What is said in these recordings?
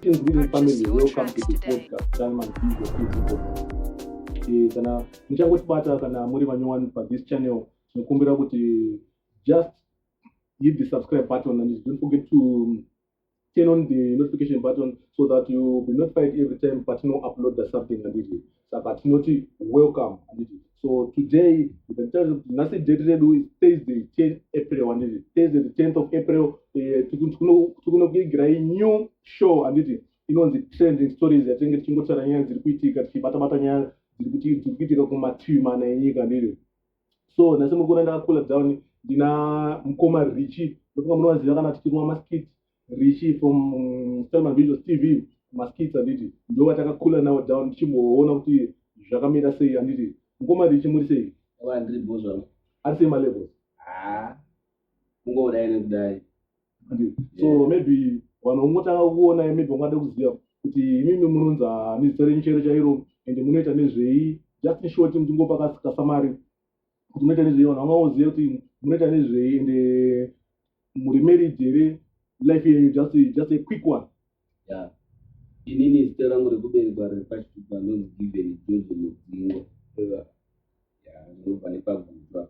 Greetings living family, welcome to the podcast Time and Peace of People. Eh, kana muchangotibata kana muri vanyowani pa this channel tinokumbira kuti just hit the subscribe button and don't forget to turn on the notification button so that you be notified every time patinouploada something handiti saka tinoti welcome handiti so today nditarise kuti nhasi date redu is thursday 10 april handiti thursday the 10th of april eh, tikunokuigirai new show handiti inonzi trending stories yatinenge tichingotaura nyaya dziri kuitika tichibatabata nyaya dziri kuitika kumativi mana enyika ndiri so nhasi mukona ndakakula down ndina mukoma richi ndofunga munovaziva kana tichiruma maskit richi from mm, stelman visuals tv maskits handiti ndo vatakakula nawo down tichimboona kuti zvakamira sei handiti mukoma richi muri sei ari sei malevels ah, kungoudai nekudai so yeah. maybe vanhu vongotanga kuona maybe vangada kuziva kuti imimi munonzi hanizita renyu chairo chairo and munoita nezvei just in short mutingopa kasamari kuti munoita nezvei vanhu vangaoziva kuti munoita nezvei and eh, muri married here life yenyu just just a quick one yeah inini zita rangu rekuberekwa riri pachitupa ndonzi given jozi mudzingwa ndobva nepagutwa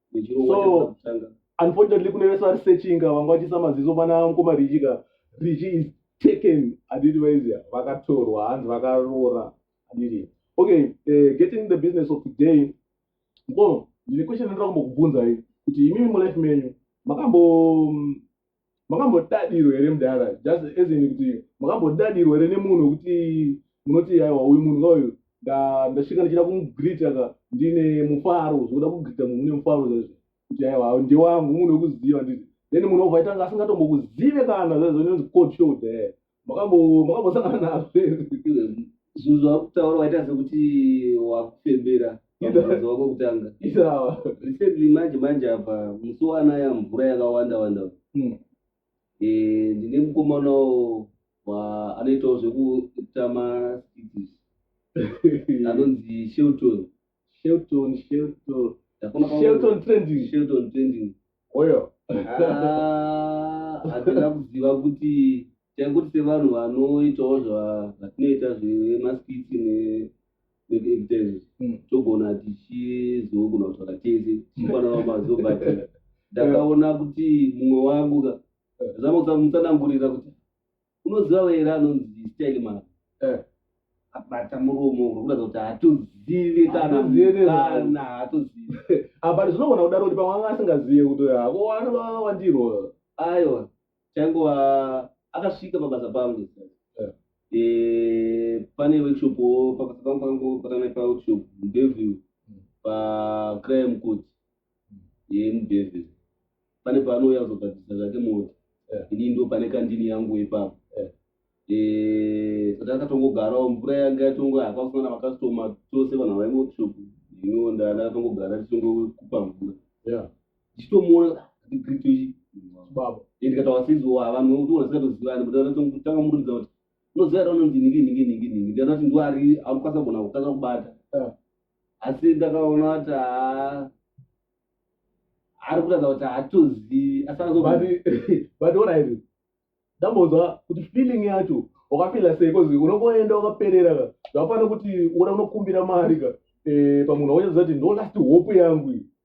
so unfortunately kune vese vari sechinga vanga vachisa maziso pana mukoma richi ka richi is taken aditi vaizia vakatorwa hanzi vakaroora aditi okay uh, getting the business of today mkono ndine question ndinoda kumbokubvunzai kuti imimi mulife menyu makambo mm, makambodadirwa here mudara just as in kuti makambodadirwa here nemunhu wekuti munoti aiwa uyu munhu kauyu ndasvika ndichida kumugreeta ka ndine mufaro zvokuda kugreeta munhu une mufaro zvezvo kuti aiwa ndewangu munhu wekuziva ndii then munhu wobva aitanga asingatombokuzive kana zvezvo nonzi cold shoulder makambosangana nazvo zvinhu zvakutaura waita sekuti wakufembera mabvunzo wako kutanga recently manje manje apa musi wanaya mvura yakawanda wanda hmm. eh, ndine mukomanawo anoitawo zvekuita maskits anonzi shelton Shelton, Shelton. Ndakona pamwe- Shelton trending. Shelton trending. Oyo. Ah, hatina kuziva kuti taingoti sevanhu vanoitawo zva- zvatinoita zvemaskiti ne- nekuactors Mm. togona tichizogona kutaura tese tichipanana mazivo but ndakaona kuti mumwe wangu ka zama kutsamutsanangurira kuti unoziva vaera anonzi style man eh. abata muromo urikuratidza kuti hatozive kanakana hatozive abati zvinogona kudaro kuti pamwe anga asingazive kuti hako anova wandiro aiwa chaingova akasvika pabasa pangu eh. eh, pane workshop pabasa pangu pangu patanaipa workshop ndeview hmm. pacrime court yeye mudevil pane paanouya kuzogadzirisa zvake mota ini ndo pane kandini yangu ipapo saka akatongogarawo mvura yanga yatongo hapasina na makastoma tose vanhu havai workshop ino ndana akatongogara tichongokupa mvura ndichitomuona ndigritochi baba ndikatawa sizowa havanhu vekuti unasikatozivani but tanga muridza kuti unoziva ra unonzi ningi ningi ningi ningi ndanati ndiwari aukasa gona kutanga kubata asi ndakaona kuti haa ari kuratidza kuti haatozivi asibut orairi ndambonzwa kuti feeling yacho wakafila sei bcause unongoenda wakaperera ka zvafanira kuti uona unokumbira mari ka eh, pamunhu wauchaziva kuti ndo last hope yangu iyi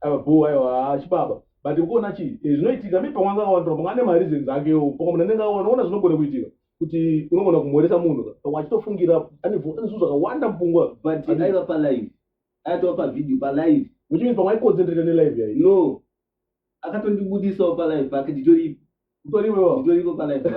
ava bhoo aiwa haa chibaba but ukuona chii eh, zvinoitika mi pamwe angakawandirwa pamwe ane mareasons akewo pamwe munhu anenge aona ona zvinogona kuitika kuti unogona kumhoresa munhu ka pamwe achitofungira ane vo- ane zvinhu zvakawanda mupfungwa but Ati- aiva palive aitova pavideo palive which means pamwe aiconcentrate nelive yayi no akatondibudisawo palive pake nditoripo utoriwewo utoriko palive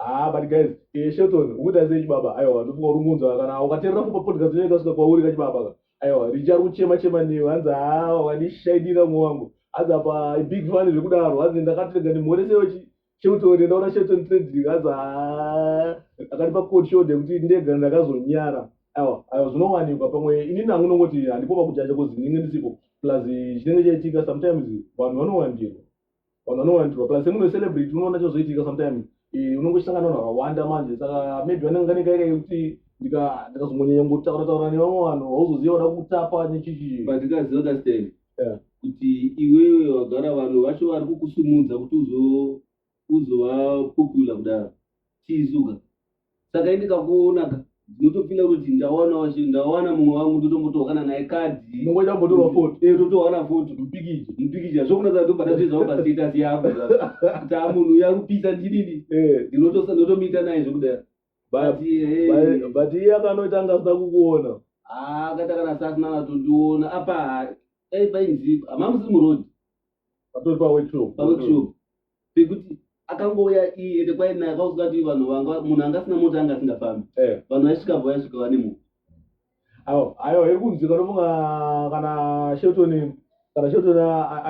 Ah, but guys, eh, Shelton, ukuda sei chibaba? Aiwa, ndofunga uri kunzwa kana ukaterera kupa podcast inoita kusvika kwauri ka chibaba ka. Aiwa, Richa ari kuchema chema newe, hanzi haa wandishaidira mwe wangu. Hanzi apa big fan zvekudaro, hanzi ndakatenga ndimhorese wechi Shelton ndaona Shelton Trading, hanzi haa akatipa cold shoulder yekuti ndega ndakazonyara. Aiwa, aiwa zvinowanikwa pamwe ini nangu ndongoti handipo pakujaja kozi ndinenge ndisipo. Plus chinenge chaitika sometimes vanhu vanowandirwa. vanhu vanowandirwa plus semuno celebrity unoona chozoitika sometimes eh, unongosangana vanhu vakawanda manje saka maybe vanenge vanenge kaika yekuti ndikazongonyanya ngotaura taura nevamwe vanhu hauzoziva vada kutapa nechichi but ndikaziva kastan kuti iwewe wagara vanhu vacho vari kukusumudza kuti uzo uzova popular kudaro chiizuka saka ini kakuonaka ndinotofila kuti ndawana wacho ndawana mumwe wangu ndotombotohana naye kadhi unongoita kumbotorwa foto Eh, totohana foto mupikija mupikija zvokunaka ndobva ndazvizawo pastatus yako kuti a munhu uya kupisa ndinini Eh, ndinotosa ndotomiita naye zvekudai ba- But, eh, ba- but iye akanoita anga asina kukuona ah, akaita kana sasina vatondiona apa eh, painzi hamamusi murodi patori paworkshop paworkshop pekuti akangouya iye ende kwaina akaudzwa kuti vanhu vanga munhu anga asina mota anga asingafambi eh. vanhu vaisvika bva vaisvika vane mota ayo ayo iri kunzi kanofunga kana shelton kana shelton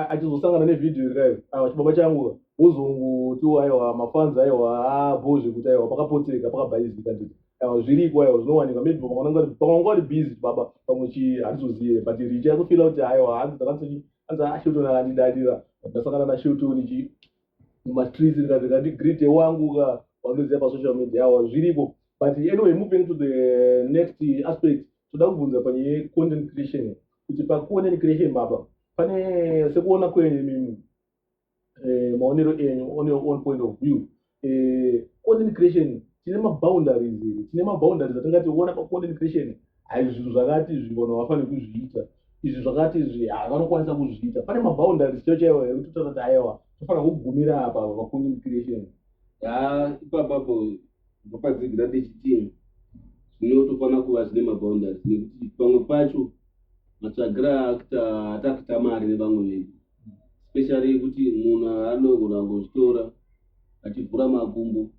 achizosangana nevhidhiyo iri kayo ayo chibaba changu uzungu tiwo aiwa mafanzi aiwa abo zvekuti aiwa pakapotseka pakabhaizi kanditi aiwa zviriko aiwa zvinowanika maybe pakananga pakananga vari busy baba pamwe chi handizozive but richa yakufila kuti aiwa hanzi dzakatsochi anzi ashutu ah, anandidadira ndasangana nashutu ndichi mumastreets ndikazi ndati greet wangu ka wanoziva pasocial media awa zviripo but anyway moving to the next aspect toda kubvunza pane content creation kuti pacontent creation baba pane sekuona kwenyu imimi eh, maonero enyu on your own point of view eh, content creation tine maboundaries here tine maboundaries atingati ona pacontent creation haizvi zvinhu zvakati izvi vanhu havafaniri kuzviita izvi zvakati izvi havanokwanisa kuzviita pane maboundaries chio chaiwo here kuti totaura kuti aiwa tofanira kugumira apa pacontent creation ya ipapapo ndopadzigira ndichitii zvinotofanira kuva zvine maboundaries nekuti pamwe pacho matsvagira akuta atakita mari nevamwe vedu especially kuti munhu anogona kuzvitora achivhura makumbo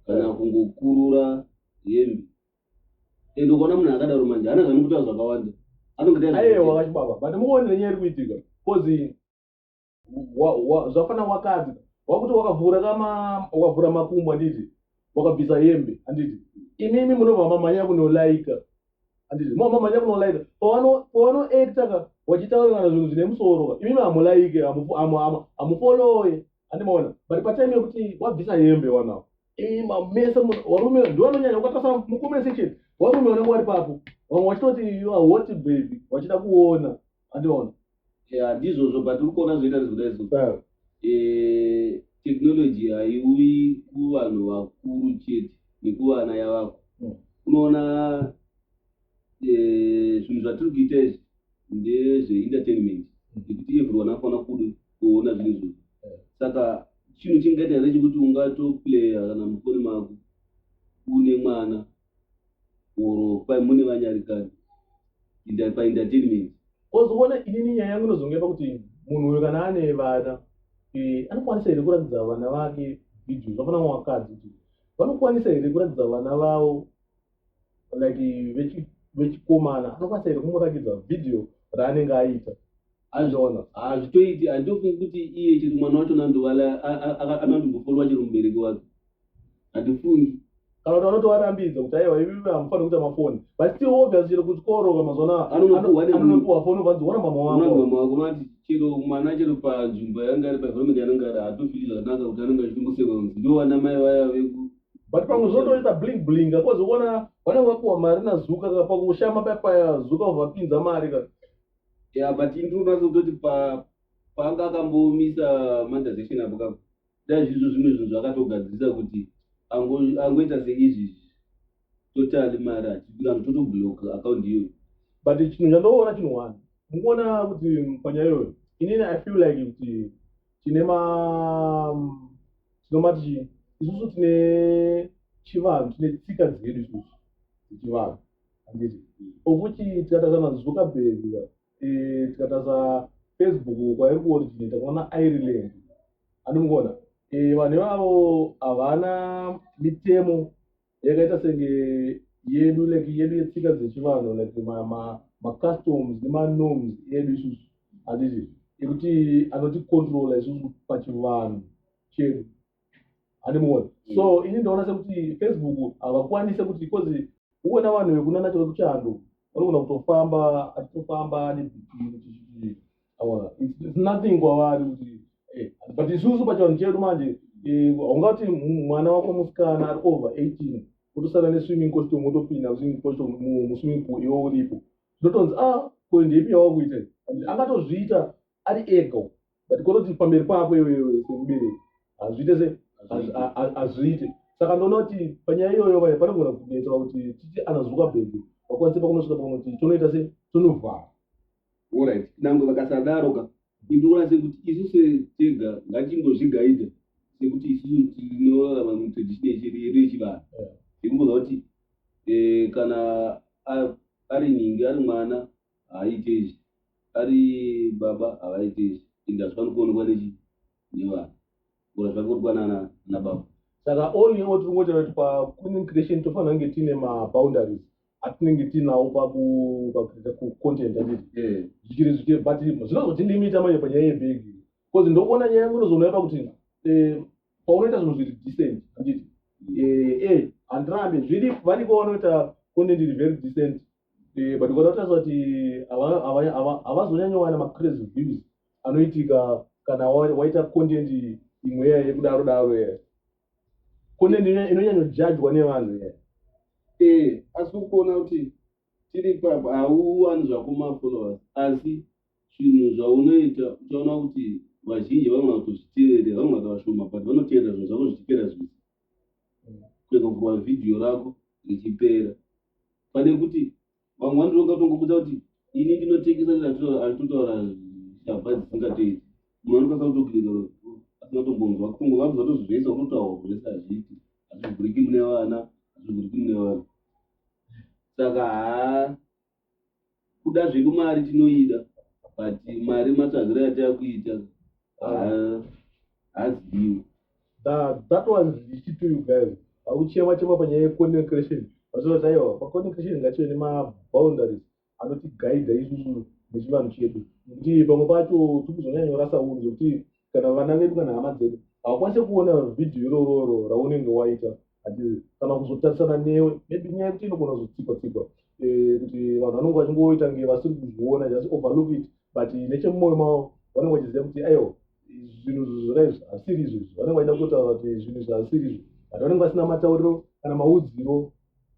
kana eh. kungokurura hembe and ukaona munhu akadaro manje ana zvanikutaura zvakawanda anongoaewakachibaba but muone nenyaya iri kuitika bcause zvafana wakadzi wakuti wakavhura kama wakavhura makumbo anditi wakabvisa hembe anditi imimi munobva mamanya kunolaika handizvi mama manya kunolaika pawanoekta ka wachitaura kana zvinhu zvine musoro ka imimi hamulaike hamufoloye handimaona but patime yekuti wabvisa hembe wanawo ima mese warume ndiwanonyanya ukatasa mucomment section warume vanenge wari papo vamwe vachitoti hoti baby vachida kuona andiona handizvozvo but uri kuona zvoita rizvoda izvo technology haiuyi kuvanhu vakuru chete nekuvana yavako hmm. unoona eh, zvinhu zvatiri kuita izvi ndezveentertainment hmm. nekuti everyone afana kuda kuona zvinhu izvozvo hmm. saka chinhu chingaita here chekuti ungatoplaya kana mufoni mako une mwana or kwai mune vanyarikani inda paentertainment Kozi kuona inini nyaya yangu inozonge yava kuti munhu uyo kana ane vana eh, anokwanisa here kuratidza vana vake video zvafana vakadzi kuti vanokwanisa here kuratidza vana vavo like vechi- vechikomana anokwanisa here kumuratidza video raanenge aita azviona hazvitoiti handiofungi kuti iye chiri mwana wacho nandovala anandombofolwa chero mubereki wake handifungi kana kuti vanotovarambidza kuti aiwa ivi hamufaniri kuita mafoni but still obvious chero kuchikoro kamazuva anoanonopiwa foni vanzi ona mama wamama wako mati chero mwana chero panzvimbo yaanga ari paenvironment yaanenge ari hatofili zvakanaka kuti anenge achitongosekwa kunzi ndo vana mai vaya veku but pamwe zvotoita bling bling akozoona vanenge vakuwa mari nazuka ka pakushama paya paya zuka vapinza mari ka Yeah, but ini ndinonazototi pa paanga akambomisa mandazation apo kapo dai zvizvo zvimwe zvinhu zvakatogadzirisa kuti ango- angoita seizvi totali mari achibika anhu totoblock account iyoyo but chinhu chandoona chinhu one mukuona kuti panyaya iyoyo inini i feel like kuti tine ma tinomati chii isusu tine chivanhu tine tsika dzedu isusu dzechivanhu handiti okuti tikatasa mazuckerberg eh, tikatasa facebook kwairi kuoriginate kwaona ireland andimukuona eh, vanhu ivavo havana mitemo yakaita senge yedu like yedu yetsika dzechivanhu like macustoms nemanorms edu isusu handiti ekuti anoticontrola isusu pachivanhu chedu handimuoni mm. so ini ndaona sekuti facebook havakwanise kuti because uona vanhu vekunana chave kuchando vanogona kutofamba achitofamba nebhii aona its nothing kwavari kuti eh, but isusu pachivanhu chedu manje eh, haungati mwana wako musikana ari over eighteen kutosara neswimming costume wotopinda muswimming costume muswimming pool iwo uripo zvotonzi a ah, ko ndepi yawakuita angatozviita ari ega uko but kototi pamberi pako iwe semubereki hazviite se hazviite saka ndoona kuti panyaya iyoyo vaye panogona kunetsera kuti titi anazuka bhebhi vakwanise pakunosvika pakunoti tonoita se tonovhara orit nange vakasadaro ka indoona sekuti isu setega ngatimbozvigaida sekuti isu tinorarama mutradition yechedu yedu yechivanhu zvekungoza kuti eh, kana ari nhingi ari mwana haaite izvi ari baba havaite izvi and hazvifani kuonekwa nechi nevana ora zvakorwa nana na baba saka all in all tiri kungoita kuti paquinning creation tofanira kunge tiine maboundaries atinenge tiinawo pakuita kucontent anditi eh. zvichiri zvichiri but zvinozotilimita manje panyaya yebhegi bcause ndokuona nyaya yangu inozoona yapa kuti eh, paunoita zvinhu zviri decent anditi mm. eh, eh, handirambe zviri variko vanoita content iri very decent Eh, but ukanotarisa kuti havazonyanyowana macrazy views anoitika kana waita content imwe iya yekudaro daro iya content inonyanyojajwa nevanhu iya ee eh, asi kuona kuti tiri papa hauwani zvakumafollowers asi zvinhu zvaunoita uchaona kuti vazhinji vanoona kutozviteerera vanoona kuti vashoma but vanoteerera zvinhu zvako zvichiteera zvisi kuenda kubva video rako richipera pane kuti vamwe vanoti ungatongobudza kuti ini ndinotengesa ndatotaura shabha dzisingateiti mumwe anokasakutogirika asingatombonzwa kungo vanhu vatozvivesa unotaura zvese hazviiti hazvivhuriki mune vana hazvivhuriki mune vanhu saka haa kuda zvedu mari tinoida but mari matsvagiro yatakuita haziviwo that was ichitu you guys akuchema chema panyaya yecontent creation vazoti aiwa pacontent creation ngachive nemaboundaries anotiguida isusu nechivanhu chedu nekuti pamwe pacho tikuzonyanyorasa unzi kuti kana vana vedu kana hama dzedu hawakwanise kuona vhidhiyo irororo raunenge waita hatizi kana kuzotarisana newe maybe nyaya yekuti inogona kuzotsikwa tsikwa eh, kuti vanhu vanenge vachingoita nge vasiri kuzviona just overlook it but nechemumwoyo mavo vanenge vachiziva kuti aiwa zvinhu zvakaizvi hasiri izvizvi vanenge vaida kutaura kuti zvinhu izvi hasiri izvi but vanenge vasina matauriro kana maudziro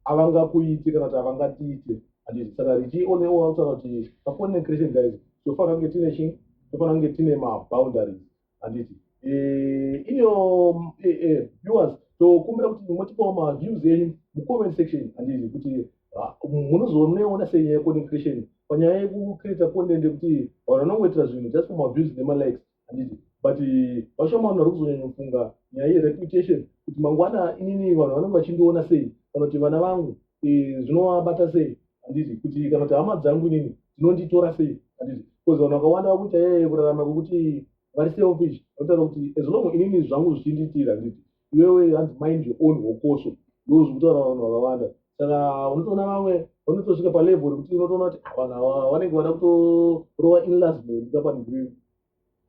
avangakuite kana kuti avangatiite handiti saka richi one all akutaura kuti pacontent creation guys tofanira kunge tine chii tofanira kunge tine maboundaries handiti eh, iniyo eh, eh, viewers tokumbira kuti motipawo maviews enyu mucomment section handiti kuti ah, munozooneona sei nyaya yecontent creation panyaya yekucreata content yekuti vanhu vanongoitira zvinhu just for maviews nemalikes handiti but eh, vashoma vanhu vari kuzonyanyofunga nyaya yereputation kuti mangwana inini vanhu vanenge vachindiona sei kana kuti vana vangu eh, zvinovabata sei handiti kuti kana kuti hama dzangu inini dzinonditora sei handiti bcause vanhu vakawanda vakuita yeye kurarama kwekuti vari selfish vanotaura kuti as long inini zvangu zvichinditira handiti iwewe hanzi mind your own hokoso ndozvikutaura vanhu vakawanda saka unotoona vamwe vanotosvika palevel rekuti unotoona kuti ah, vanhu ava vanenge vada kutorova inlasment kapanigri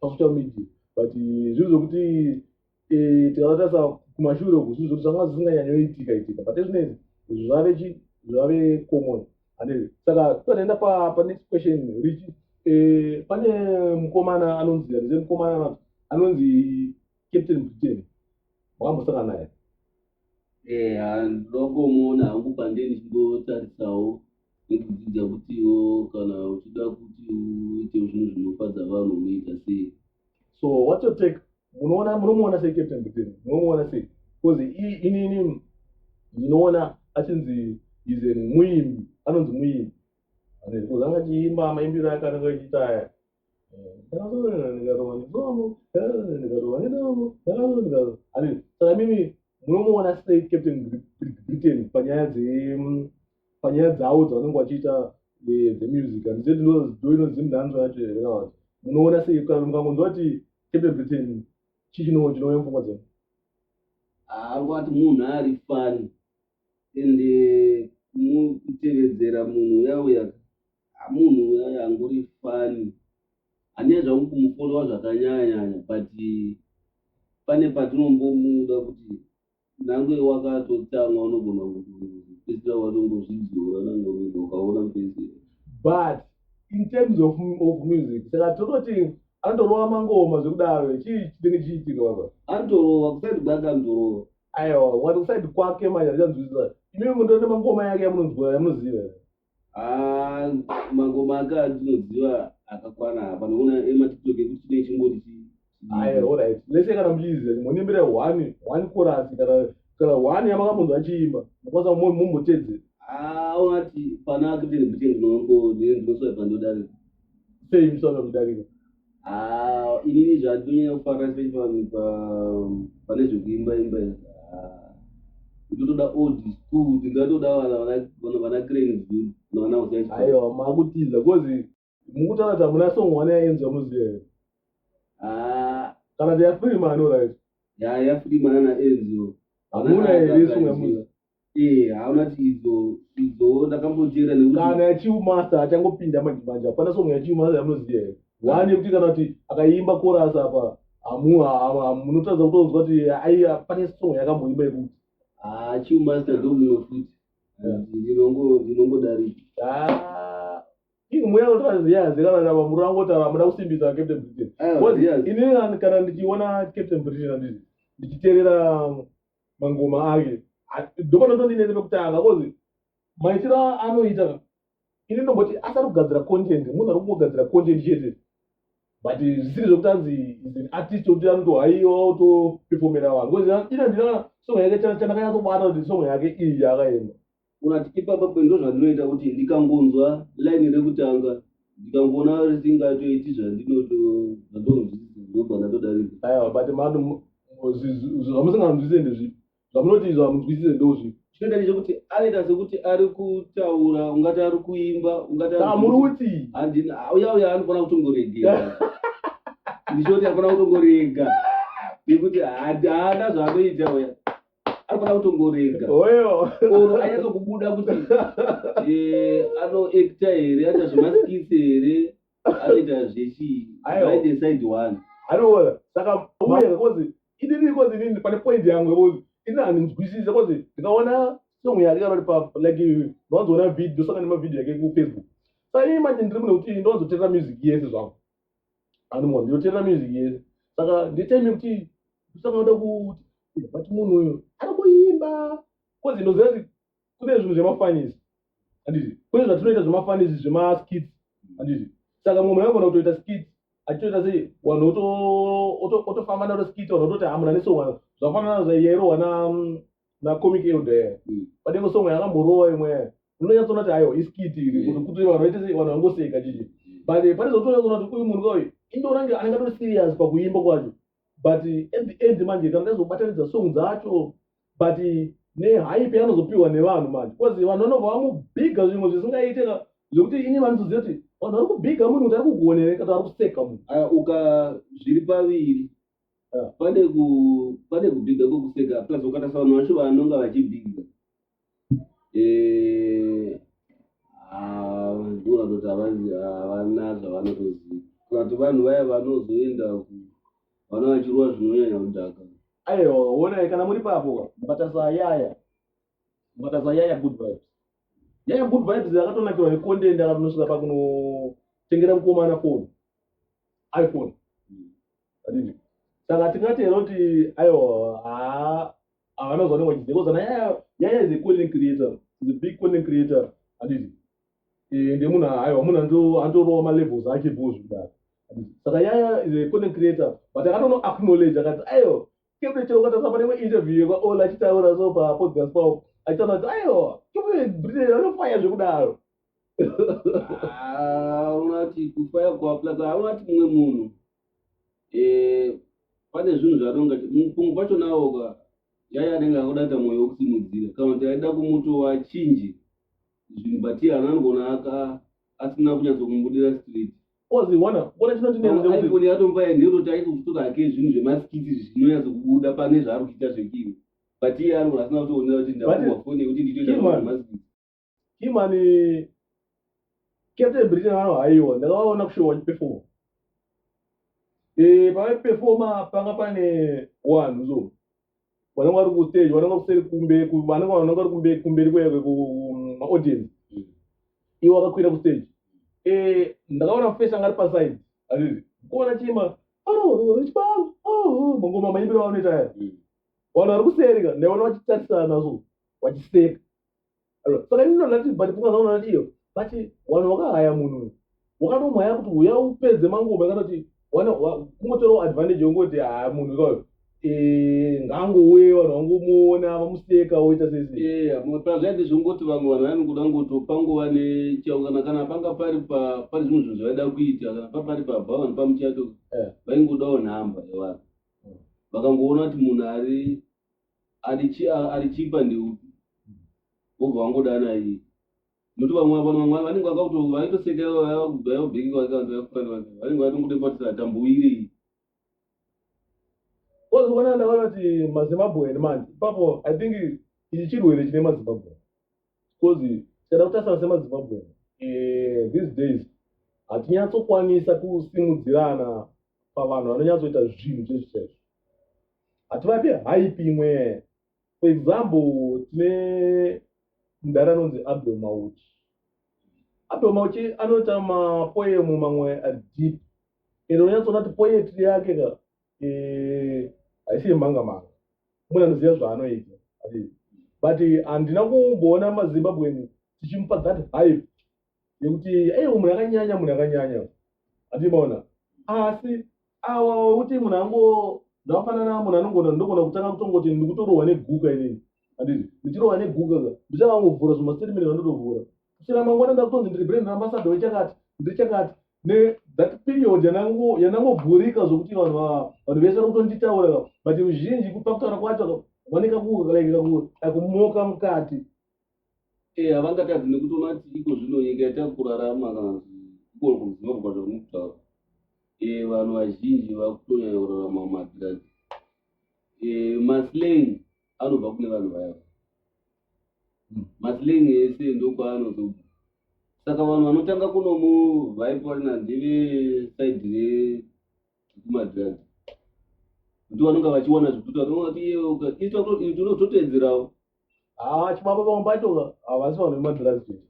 pasocial media but eh, zvinhu zvokuti eh, tikavatarisa kumashure uku zvinhu zvokuti zvanga zvisinganyanyoitika itika but ezvinezi zvave chi zvave common ande saka tikaenda panext question richi eh, pane mukomana anonzi arize mukomana anonzi Captain Mutini, makambosangana naye? Eh, ndokomuona hangu pande ndichingotarisawo nekudzidza kutiwo kana uchida kuti uite zvinhu zvinofadza vanhu unoita sei. So what's your take? Munoona munomuona sei Captain Mutini? Munomuona sei? Because inini ndinoona achinzi is a muimbi, anonzi muimbi. Because anga achiimba maimbiro akananga achiita aya. saka mimi munomuona sei captain britain panyaya panyaya dzavo dzavanenge vachiita dzemusic handize ndoinonzi mnanzo yacho here kana vati munoona sei kana mukangonzwa kuti captain britain chii chinoo chinouya mupfungwa dzenu haangati munhu ari fani ende kutevedzera munhu uyauya Munhu uya angori funny. Handina zvangu kumufollowa zvakanyanyanya but pane patinombomuda kuti nange wakatotsamwa unogona kupedzisira watongozvidzora nangorudo ukaona kupedzisira. But in terms of, of music saka tototi anotorova mangoma zvekudaro chii chinenge chichiitika baba? Anotorova kusaidi kwake anotorova. Aiwa wati kusaidi kwake manje handichanzwisisa. Imimi mutori nemangoma yake yamunonzwa yamunoziva here? Ah, mangoma ake atinoziva akakwana apa nokuona ematiktok ekuti chine chingori chi- Aye, all right. Lese kana muchiziva kuti monimbira one one chorus kana kana one yamakamunzwa achiimba mukwanisa kumo- mumbotedzera Ah, unati pana akiteni kuti ndinongo ndinoswaipa ndodari sei musana kudarika inini zvatonyanya kufara especially pane zvekuimba imba itotoda ah, old school tingatoda vana cranesdu navana aiwa makutiza bcause mukutaura kuti hamuna song one yaenza muziya ah. kana tiyafirima anorit yayafirima nana enzo hamuna here song yamuziya Eh, hauna kuti idzo idzo ndakamboteera nekuti kana yachiumasta achangopinda madhimanja hapana song yachiumasta yamunoziva here one yekuti kana kuti akaimba korasi apa hamu hamu- hamu- munotadza kutonzwa kuti aiya pane song yakamboimba yekuti ah chiu master ndo mumwe futi Yeah. ndinongo ndinongodarika Ah, ini mweya unotaura zviyazi kana kana vamuri vangotaura hamuda kusimbisa captain britain Aiwa, Because yes. ini kana- kana ndichiona captain britain handiti ndichiterera mangoma ake ndopanotondinese pekutanga kozi maitiro anoita ini ndomboti asati kugadzira content munhu ari kungogadzira content chete but zvisiri zvekuti anzi is an artist okuti anoto haiwa otoperfomera vanhu kozi ina ndina song yake chandakanyatsobata kuti song yake iyi yakaenda Unati ipapa pe ndozvandinoita kuti ndikangonzwa line rekutanga ndikangoona risingatoiti zvandinoto zvatonzwisisa ndobva ndatodarika. Aya wabate mano zvamusinganzwisise ndezvipi zvamunoti izvo hamunzwisise ndozvipi chinoita ndechekuti anoita sekuti ari kutaura ungati ari kuimba ungati muri kuti handina uya uya anofanira kutongoregera ndichoti anofanira kutongorenga nekuti haana zvaanoita uya arikuda kutongorega oyo or anyatsokubuda kuti eh, anoekta here aita zvemaskisi here anoita zvechii Aiwa. right decide one anoona saka uye kozi inini kozi inini pane point yangu yekuti ini handinzwisise kozi ndikaona song yake kana kuti pa like ndinozoona video ndosanga nemavideo yake kufacebook saka ini manje ndiri mune kuti ndinozoterera music yese zvangu anonwa ndinoterera music yese saka nditime kuti saka uda kuti eh, but munhu uyo ari kuimba kozi ndoziva kuti kune zvinhu zvemafanisi anditi kune zvatinoita zvemafanisi zvemaskits anditi saka mumwe anogona kutoita skit achitoita sei wanhu otofamba naro skit wanhu ototi hamuna nesongwa zvakafanana zvaiyairwa na mm, nacomic elder yaya Mm. pane imwe song yakamborova imwe yaya unonyatsoona kuti ayo iskiti iri Mm. kuti kuti vanhu vaite sei vanhu vangoseka chichi but eh, pane zvotonyatsona kuti uyu munhu kauyu indorange anenge atori serious pakuimba kwacho but eh, at the end manje kana ndaizobatanidza song dzacho but eh, nehype yanozopiwa nevanhu manje bcause vanhu vanobva vamubhiga zvimwe zvisingaite ka zvekuti ini vanozoziva kuti vanhu vari kubhiga munhu kuti ari kugonere kana ari kuseka munhu Ah, uka zviri paviri Ah, pane ku pane kubhiga kwekuseka plus ukatarisa vanhu vacho vanonga vachibhiga eh, ah, ndivo vanoti havazi- havana zvavanotoziva kati vanhu vaya vanozoenda ku- vana vachirowa zvinonyanya kudhaka ayo honai kana muri papo mukatarisa yaya mukatarisa yaya good vibes yaya good vibes akatonakirwa necontent akanosvika pakunotengera mukomana phone iphone adini saka tingati here kuti ayo haa havana zvanenge vachizia kozana yaya is a content creator is a big content creator adini eh, ndemunhu ayo munhu andorowa malevels ake bho zvikudaro saka yaya is a content creator but akatono acknowledge akati ayo kepre chero ukatasa pane imwe interview yekwaola achitaura so papodcast pao achitaura kuti ayo kepre britain anofaya zvekudaro Ah, unati kufaya kuaplaza haunati mumwe munhu Eh, pane zvinhu zvatonga mupungu pacho nawo ka yaya anenge akuda kuita mwoyo wekusimudzira kana kuti aida kumutova chinji zvinhu but iye ana anogona aka- asina kunyatso kumubudira street kozi wana kuona chinondinenze kuti iphone yatomba yanhero taito kutora hake zvinhu zvemasikiti zvinonyatso kubuda pane zvaari kuita zvekiwe but iye anogona asina kutoonera kuti ndakuwa fone yekuti ndichoita Kima. zvemasikiti Kim ane Captain Britain vano haiwa ndakavaona kushowa vachiperforma eh pavaiperforma panga pane wanhu so vanenge vari kustage vanenge kuseri kumbe vanenge vanenge vari kumbe kumberi kweve kumaaudience mm. iwo akakwira kustage eh ndakaona face anga ari paside azvizi kuona chima oh chibalo oh mangoma maimbiro vanoita aya mm. vanhu vari kuseri ka ndaiona vachitarisana so vachiseka saka ini ndona ti but pfungwa zvaunona tiyo but wanhu wakahaya munhu uyu wakatomhaya kuti huya upedze manguva akatoti kungotorawo advantage yongoti haa munhu ikayo eh, ngangouye vanhu vangomuona vamuseka woita sezvazvaiti zvongoti vamwe vanhu vanikuda ngoti pangova nechao kana kana panga pari pari zvimwe zvinhu zvaida kuita kana papari pabva vanhu pamuchato eh. vaingodawo nhamba yevanhu vakangoona kuti munhu ari arichipa ndeupi wobva wangodana iyi nokuti vamwe vano vamwe vanenge vakaitosekera vayakubhaya ubheki kwake vanhu vakufanira vanenge vatongoda kubatisa atambuwirei ozoona ndaona kuti mazimbabwean manje ipapo i think ichi chirwere chine mazimbabwean because tikada kutasana semazimbabwean eh, these days hatinyatsokwanisa kusimudzirana pavanhu vanonyatsoita zvinhu chezvichaizvo hativapi hype imwe for example tine mudhara anonzi abdul mauchi abdul mauchi anoita mapoemu mamwe adeep ende unonyatsoona kuti poetry yake ka eh, haisi yemhanga manga mune anoziva zvaanoita but handina kumboona mazimbabweni tichimupa that hype yekuti ei umwe yakanyanya munhu yakanyanya atimaona asi awa wekuti munhu ango ndafanana munhu anongona ndogona kutanga kutongoti ndikutorohwa neguka inini anditi ndichirohwa neguka ka ndichava ngovhura zvimastatement vandotovhura kusvira mangwana ndakutonzi ndiri brand ambassador wechakati ndiri chakati nethat period yanangovhurika zvokuti vanhu vanhu vese vari kutonditaura ka but uzhinji kupa kutaura kwacho vanekakumoka mukati Eh, havangatadzi nekuti unati iko zvino nyika yatakurarama kana iko kuzimbabwe zvauri kutaura eh, vanhu vazhinji vakutonyanya kurarama mumadhirazi eh, maslane anobva kune vanhu vaya hmm. maslane ese ndokwaanozobva saka vanhu vanotanga kunomu vaiporina ndeve saidi rekumadhirazi kuti vanonga vachiwana zvekuti vanoati iye ukaitwa kuti unototeedzerawo haa chibaba pamwe pacho havasi vanhu vemadrugs chete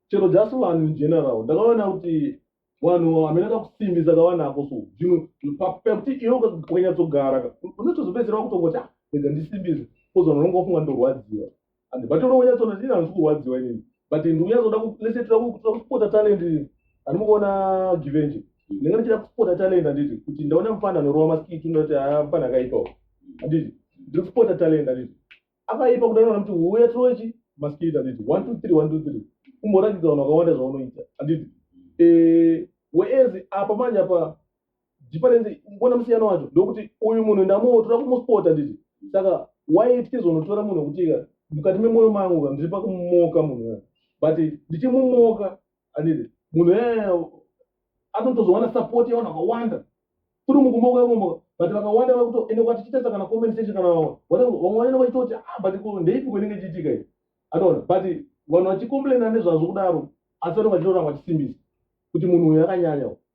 chero just vanhu in general ndakaona kuti vanhu hamena kakusimbisa kavanako so zvino pakuti iwe ukanyatsogara unotozopedzera vakutongoti ah, rega ndisimbise kozi vanhu vanonga vafunga ndorwadziwa and vatoroonyatsona ndini handisi kurwadziwa inini but ndikuya zoda lese tira kupota talent ani mukuona givenje ndinenge ndichida kupota talent handiti kuti ndaona mfana anorova maskiti ndinoti haa ah, mfana akaipawo handiti ndiri kupota talent handiti akaipa kuda nona kuti huya tirochi maskiti handiti one two three one two three kumboratidza vanhu vakawanda zvaunoita handiti eh, weezi apa manje apa Difference mbona musiyano wacho ndokuti uyu munhu ndamuotora kumuspota nditi saka why tichizonotora munhu wekuti mukati memoyo mangu ka ndiri pakumumoka munhu ya but ndichimumoka anditi munhu ya anotozowana support yavanhu vakawanda kuri mukumoka imomoka but vakawanda vakutoende kwatichitesa kana comment section kana vamwe vamwe vanenge vachitoti ah but ndeipi kwenenge chiitika i anoona but vanhu vachicomplaina nezvazvo kudaro asi vanenge vachitoona vachisimbisa kuti munhu uyu akanyanya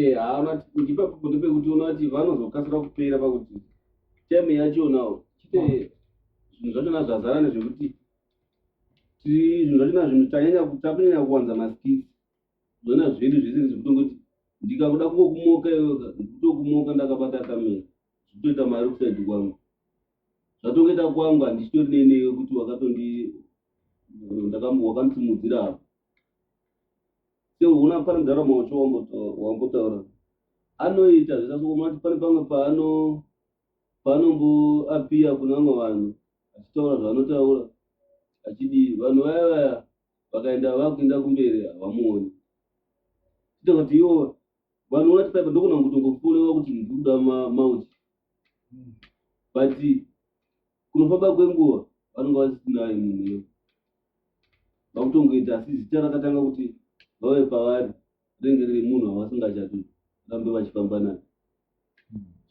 Eh, haana ndipa kuti pekuti unoona kuti vanozokasira kupera pakuti time yacho nawo chite zvinhu zvacho na zvazara nezvekuti ti- zvinhu zvacho na zvinhu tanyanya ku- takunyanya kuwanza maskits zvoona zvedu zvese zvekutongoti ndikakuda kungokumoka iwe ndikutokumoka ndakabata kamera zvitoita mari kusaidi kwangu zvatongoita kwangu handichitori neinewe kuti wakatondi ndakam- wakanditsimudzira apa seuna pane ndaramo wacho wambotaura anoita zvisasokomati pane pamwe paano panomboapiya kune vamwe vanhu achitaura zvaanotaura achidii vanhu vaya vaya vakaenda vakuenda kumberi havamuoni ita kuti iwo vanhu vati paipa ndokona kutongofurewa kuti ndikuda mauti but kunofamba kwenguva vanonga vasitinaye munhu iyo vakutongoita asi zita rakatanga kuti vave pavari rinenge riri munhu wavasingachati rambe vachifamba naye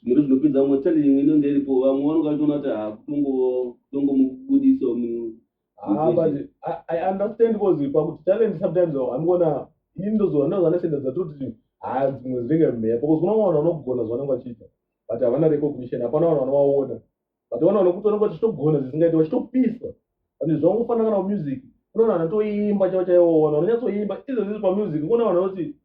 zvimwere zvinopedza vamwe tali imwe inonge iripo vamwe vanonga vachitoona kuti hakutongomubudiso ah, i understand bcause pakuti talent sometimes anogona ini ndozoa ndozvanesenda dzatoti haa ah, dzimwe dzinenge mhepo bcause kuna vanhu vanogona zvavanenge vachiita but havana recognition hapana vanhu vanovaona but vana vanokuti vanenge vachitogona zvisingaiti vachitopisa and zvangu kufanana kana music unoona vanhu vatoimba chavo chaivo vanhu vanonyatsoimba izvo zvizi pamusic kuona vanhu vanoti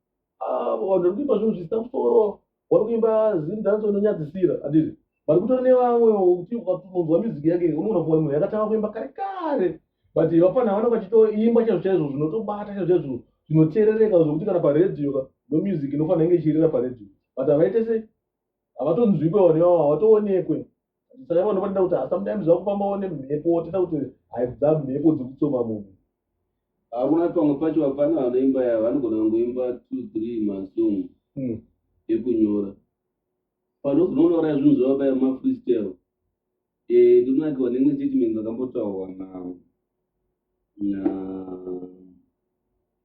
ah, vanhu vari kuimba zvinhu zvisina musoro vari kuimba zim dance inonyadzisira andizvi but kutori nevamwe kuti ukatonzwa music yake unoona kuva munhu yakatanga kuimba kare kare but vapana vanenge vachitoimba chaizvo chaizvo zvinotobata chaizvo chaizvo zvinoteerereka zvokuti kana paredio ka no music inofanira inge ichirira paredio but havaite sei havatonzwikwa vanhu ivavo havatoonekwe saka vanhu vanoda kuti hasamdaimi zvakufambawo nemhepo toda kuti haibva mhepo dzekutsoma munhu hakuna pamwe pacho vapana vanoimba yavo vanogona vangoimba two three masong hmm. ekunyora panozononouraya zvinhu zvavabaya mafreestyle Eh, ndonakiwa nemwe statement ndakambotaurwa na na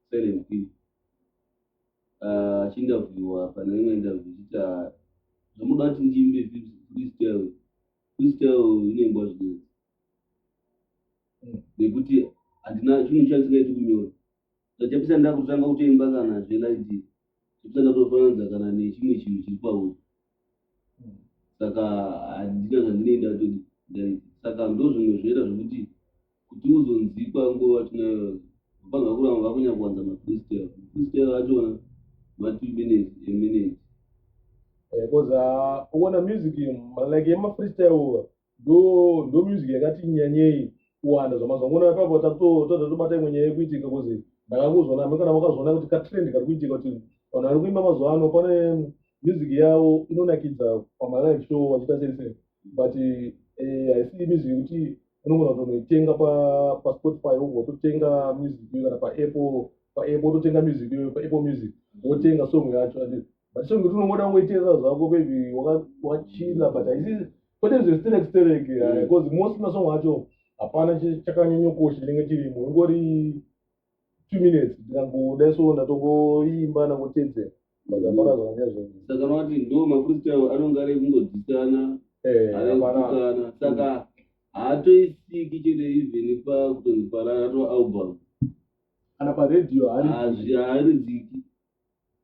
Silent P achiinterviewa uh, pane imwe interview chiti ah, zvamuda kuti ndiimbe vibs please tell please tell inoimbwa zvinezi nekuti handina chinhu chandisingaiti kunyora Ndachapisa ndakutanga kutoimba kana zvelaidi chapisa ndatofananidza kana nechimwe chinhu chiri pauri saka handina zvandinei ndatodi saka ndozvimwe zvoita zvekuti kuti uzonzikwa nguva tinayo vapana vakuramba vakunyanya kuwanza mafristel mafristel achona matwo minutes eminute because eh, uh, uona music like yemafristel ndo ndo music yakati nyanyei kuwanda zvamazvangona ipapo tatoda tobata imwe nyaya yekuitika kozi ndakakuzvona amwe kana makazvona kuti katrend kari kuitika kuti vanhu vari kuimba mazuva ano pane music yavo inonakidza pamalive show vachiita sei sei but eh, haisi music yekuti unogona kutonoitenga paspotify wobva totenga music iyo kana paapple paapple wototenga music iyo paapple music wotenga song yacho but song yekuti unongoda kungoiteerera zvako maybe wakachila but haisi kwete zvesterek sterek eh, mm. bcause most masong acho hapana chakanyanyokosha chinenge chirimo ingori two minutes ndingangoda so ndatongoimba ndangotedzera vakapara zvakanya zvinhu saka noti ndo mafreestyle anonge ari kungodzisana eh, aeana saka haatoisiki chete even pakutonzi parara to album kana paradio haaridziki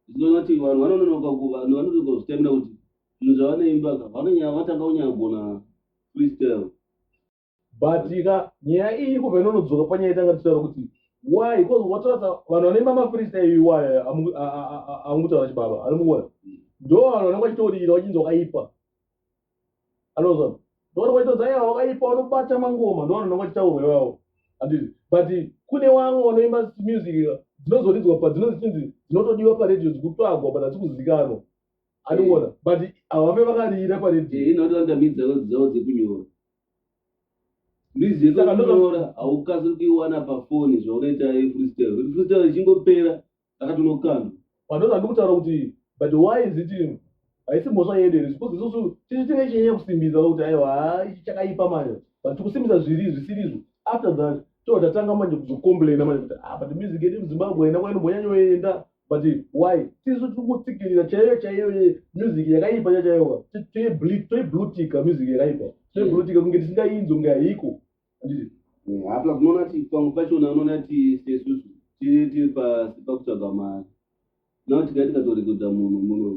ndinoona kuti vanhu vanononoka kuva vanhu vanonoka kuzvitemera kuti zvinhu zvavanoimba ka vanonyaya vatanga kunyaya gona freestyle but ka nyaya iyi kubva inonodzoka panyaya itanga tichitaura kuti why because watoratsa vanhu vanoimba mafreestyle iwaya amukutaura chibaba anomuona ndo vanhu vanenge vachitoririra vachinzi wakaipa anozwa ndoona kwachitodza ya wakaipa unobata mangoma ndoona ndoona kwachitaurwa iwawo anditi but kune wamwe wanoimba music dzinozoridzwa padzinonzi chinzi dzinotodiwa paredio dzikutsvagwa but hasi kuzikanwa andiona but havambe vakarira paredio inotoandamidza dzavo dzekunyora mizika kunyora haukasiri kuiwana pafoni zvaunoita freestyle kuti freestyle ichingopera ndakati no kani vanoti handi kutaura kuti but why is it you haisi mhosva yedu here because isusu tisu tinge chinyanya kusimbisa kuti aiwa haa ichi chakaipa manje but tikusimbisa zviri zvisirizvo after that too tatanga manje kuzocomplaina manje kuti ah but music yedu muzimbabwe haina kwainombonyanyoenda but why tisu tiri kutsikirira chaiyo chaiyo ye music yakaipa chachaiwa toiblutika music yakaipa toiblutika kunge tisingainzwi kunge haiko apa unoona kuti pamwe pachona unoona kuti sesusu tiri pasi pakutsvaga mari nao tikai tikatorekodha munhu muno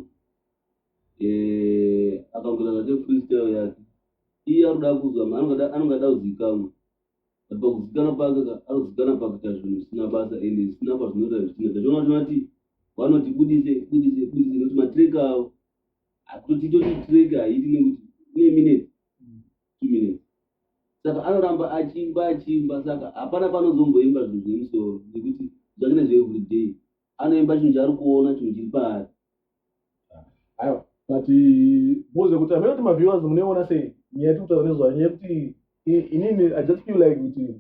eh, akangoita zvake freestyle yake iye ari kuda kuzwa anonga ada kuzikamwa but pakuzikana pake ari kuzikana pakuita zvinhu zvisina basa and zvisina pazvinoita zvichina zvachiona kuti vati vanoti budise budise budise nekuti matrek avo akutotiitoti trek haiti nekuti ine minutes minutes saka anoramba achiimba achiimba saka hapana panozomboimba zvinhu zvemusoro nekuti zvakina zveeveryday anoimba chinhu chaari kuona chinhu chiri paari aiwa but boze kuti amene kuti maviewers munoiona sei nyaya yatiri kutaura nezvayo nyaya yekuti inini i just feel like kuti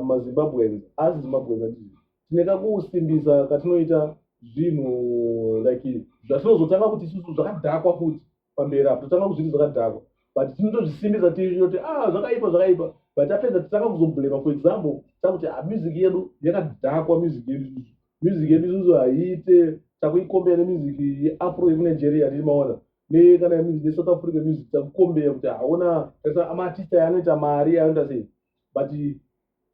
mazimbabweans asi zimbabweans ati tine kakusimbisa katinoita zvinhu like zvatinozotanga kuti isusu zvakadhakwa futi pamberi apo totanga kuzviti zvakadhakwa but tinotozvisimbisa tioti a ah, zvakaipa zvakaipa but apedza titanga kuzoblema for example takuti a ah, music yedu yakadhakwa music yedu isusu music yedu isusu haiite takuikombeya nemusic yeafro yekuNigeria tichimaona nekana neSouth Africa music takukombeya kuti haona amaartist aya anoita mari anoita sei but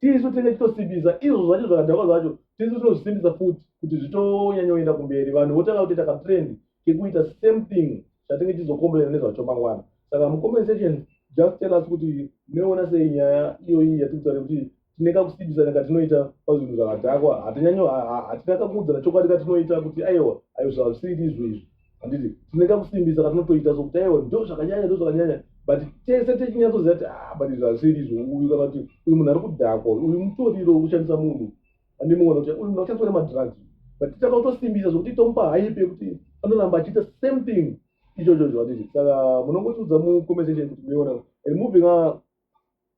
tisu tinenge titosimbisa izvo zvacho zvakadhakwa zvacho tisu tinozvisimbisa futi kuti zvitonyanyoenda kumberi vanhu votanga kutoita katrend kekuita same thing zvatinge tizokomborera nezvacho mangwana saka mucompensation just tell us kuti munoona sei nyaya iyoyi yatikutaura kuti tine kakusimbisana katinoita pazvinhu zvakadhakwa hatinyanyo hatina kakuudzana chokwadi katinoita kuti aiwa ayo zvazvisiri izvo izvi handiti tine kakusimbisa katinotoita sokuti aiwa ndo zvakanyanya ndo zvakanyanya but tese techinyatsoziva kuti ah, but izvi hazviri izvo uyu kana kuti uyu munhu ari kudhakwa uyu mutoriro wekushandisa munhu ane mumwe anokuti uyu munhu akushandiswa nemadrugs but titanga kutosimbisa zvokuti tomupa haipe yekuti anoramba achiita same thing ichocho cho handiti saka munongotiudza mucommensation kuti muiona and moving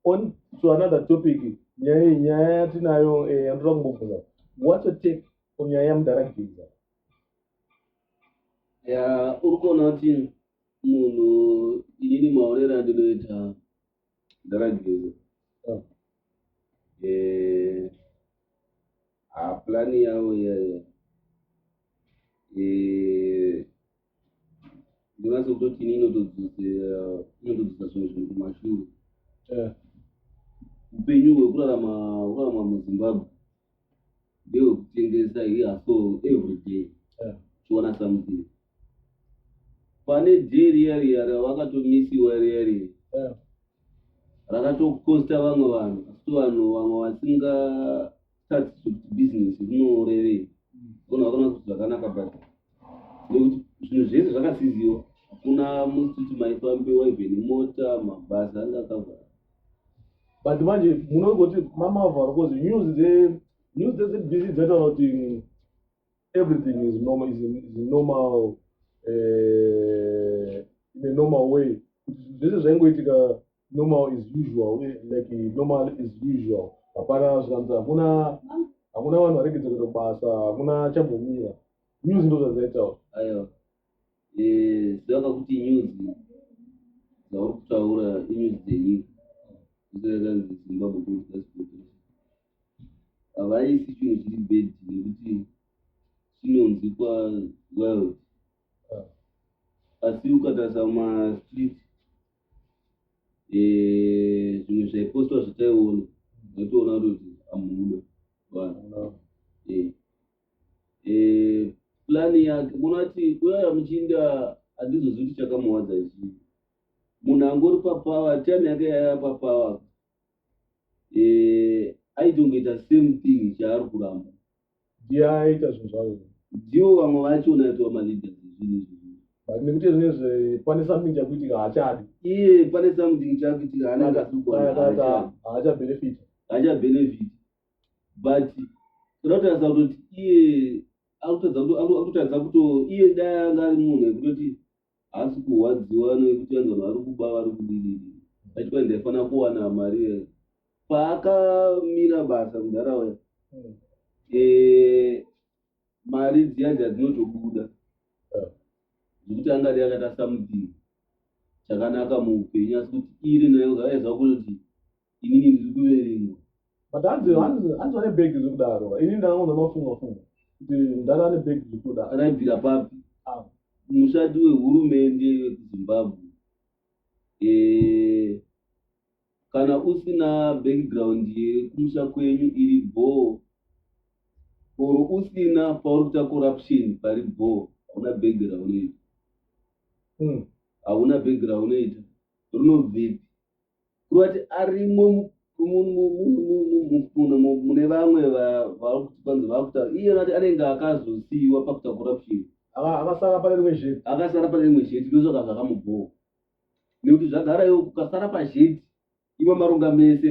on to another topic nyaya iyi nyaya yatinayo eh, yandinoda kumbobvunza what's your take on nyaya yamudhara geza uri kuona kuti munhu inini maonero andinoita ndarageza oh. eh, hapulani yavo iyayo eh, ndinase kutoti ini inotodzosa zvimwe zvinhu kumashure eh. upenyu hwekurarama muzimbabwe ndeyokutengesa iya so every day Yeah. chiona something pane day riya riya ravakatomisiwa riya riya Yeah. rakatokosta vamwe vanhu asi vanhu vamwe vasinga start kuti business rinorevei vanhu vakona kuti zvakanaka but nekuti zvinhu zvese zvakasiziwa hakuna musiti maifambiwa even mota mabasa anga akavhara but manje munongoti mamavharo bcause news dze news dzezbc dzataura kuti everything is normal is normal uh, in a normal way kuti zvese zvaingoitika normal is usual eh, like normal is usual hapana zvikanzi hakuna hakuna vanhu varegedza kuita basa hakuna chambomira news ndo zvadzaitaura Eh, zvichava kuti news dzauri kutaura inews dzenyika zvisakanzi zimbabwe kuaspotration havaisi chinhu chiri bed nekuti chinonzi kwaworld ah. asi ukatarisa mumastreet eh, zvimwe zvaipostwa zvataiona vaitoona kuti amuda vanhu eh, plan yake munati kuyaya muchinda handizozivi kuti chakamuwadza chii munhu angori papower time yake yaya papower eh, aitongoita same thing chaari kuramba ndiye aita zvinhu zvavo ndivo vamwe vacho unaitwa maleaders zvinhu izvi but nekuti nezve pane something chakuitika haachadi iye pane something chakuitika haana Aya- aya- aya- aya- haachabenefit haachabenefit but toda kutarisa kutoti iye akutadza kuto iye dai anga ari munhu ekutoti haasi kurwadziwa nekuti anzi vanhu vari kuba vari kudii achikwa ndaifanira kuwana mari ye paakamira basa mudhara waya hmm. eh, mari dziya dzadzinotobuda zvekuti hmm. angadai akatasa mudhiri chakanaka muupenyu asi kuti iri nayo zvaaiziva kunoti inini ndiri kuverenga but hanzi hanzi vane bhegi zve kudaro ini ndakaona mafunga funga kuti mdhara ane bhegi zve kuda akaibvira papi ah. mushandi wehurumende wekuzimbabwe eh, kana usina background yekumusha kwenyu iri bhoo or usina pauri kuita corruption pari bhoo hauna bhegi raunoita hmm. hauna bhegi raunoita rinobvepi kureva kuti arimo mune vamwe vakutipanzi vakutaura iye vati anenge akazosiyiwa pakuta corruption akasara pane rimwe zheti akasara pane rimwe zheti ndosaka zvakamubhowa nekuti zvagara iwo kukasara pazheti iwe marunga mese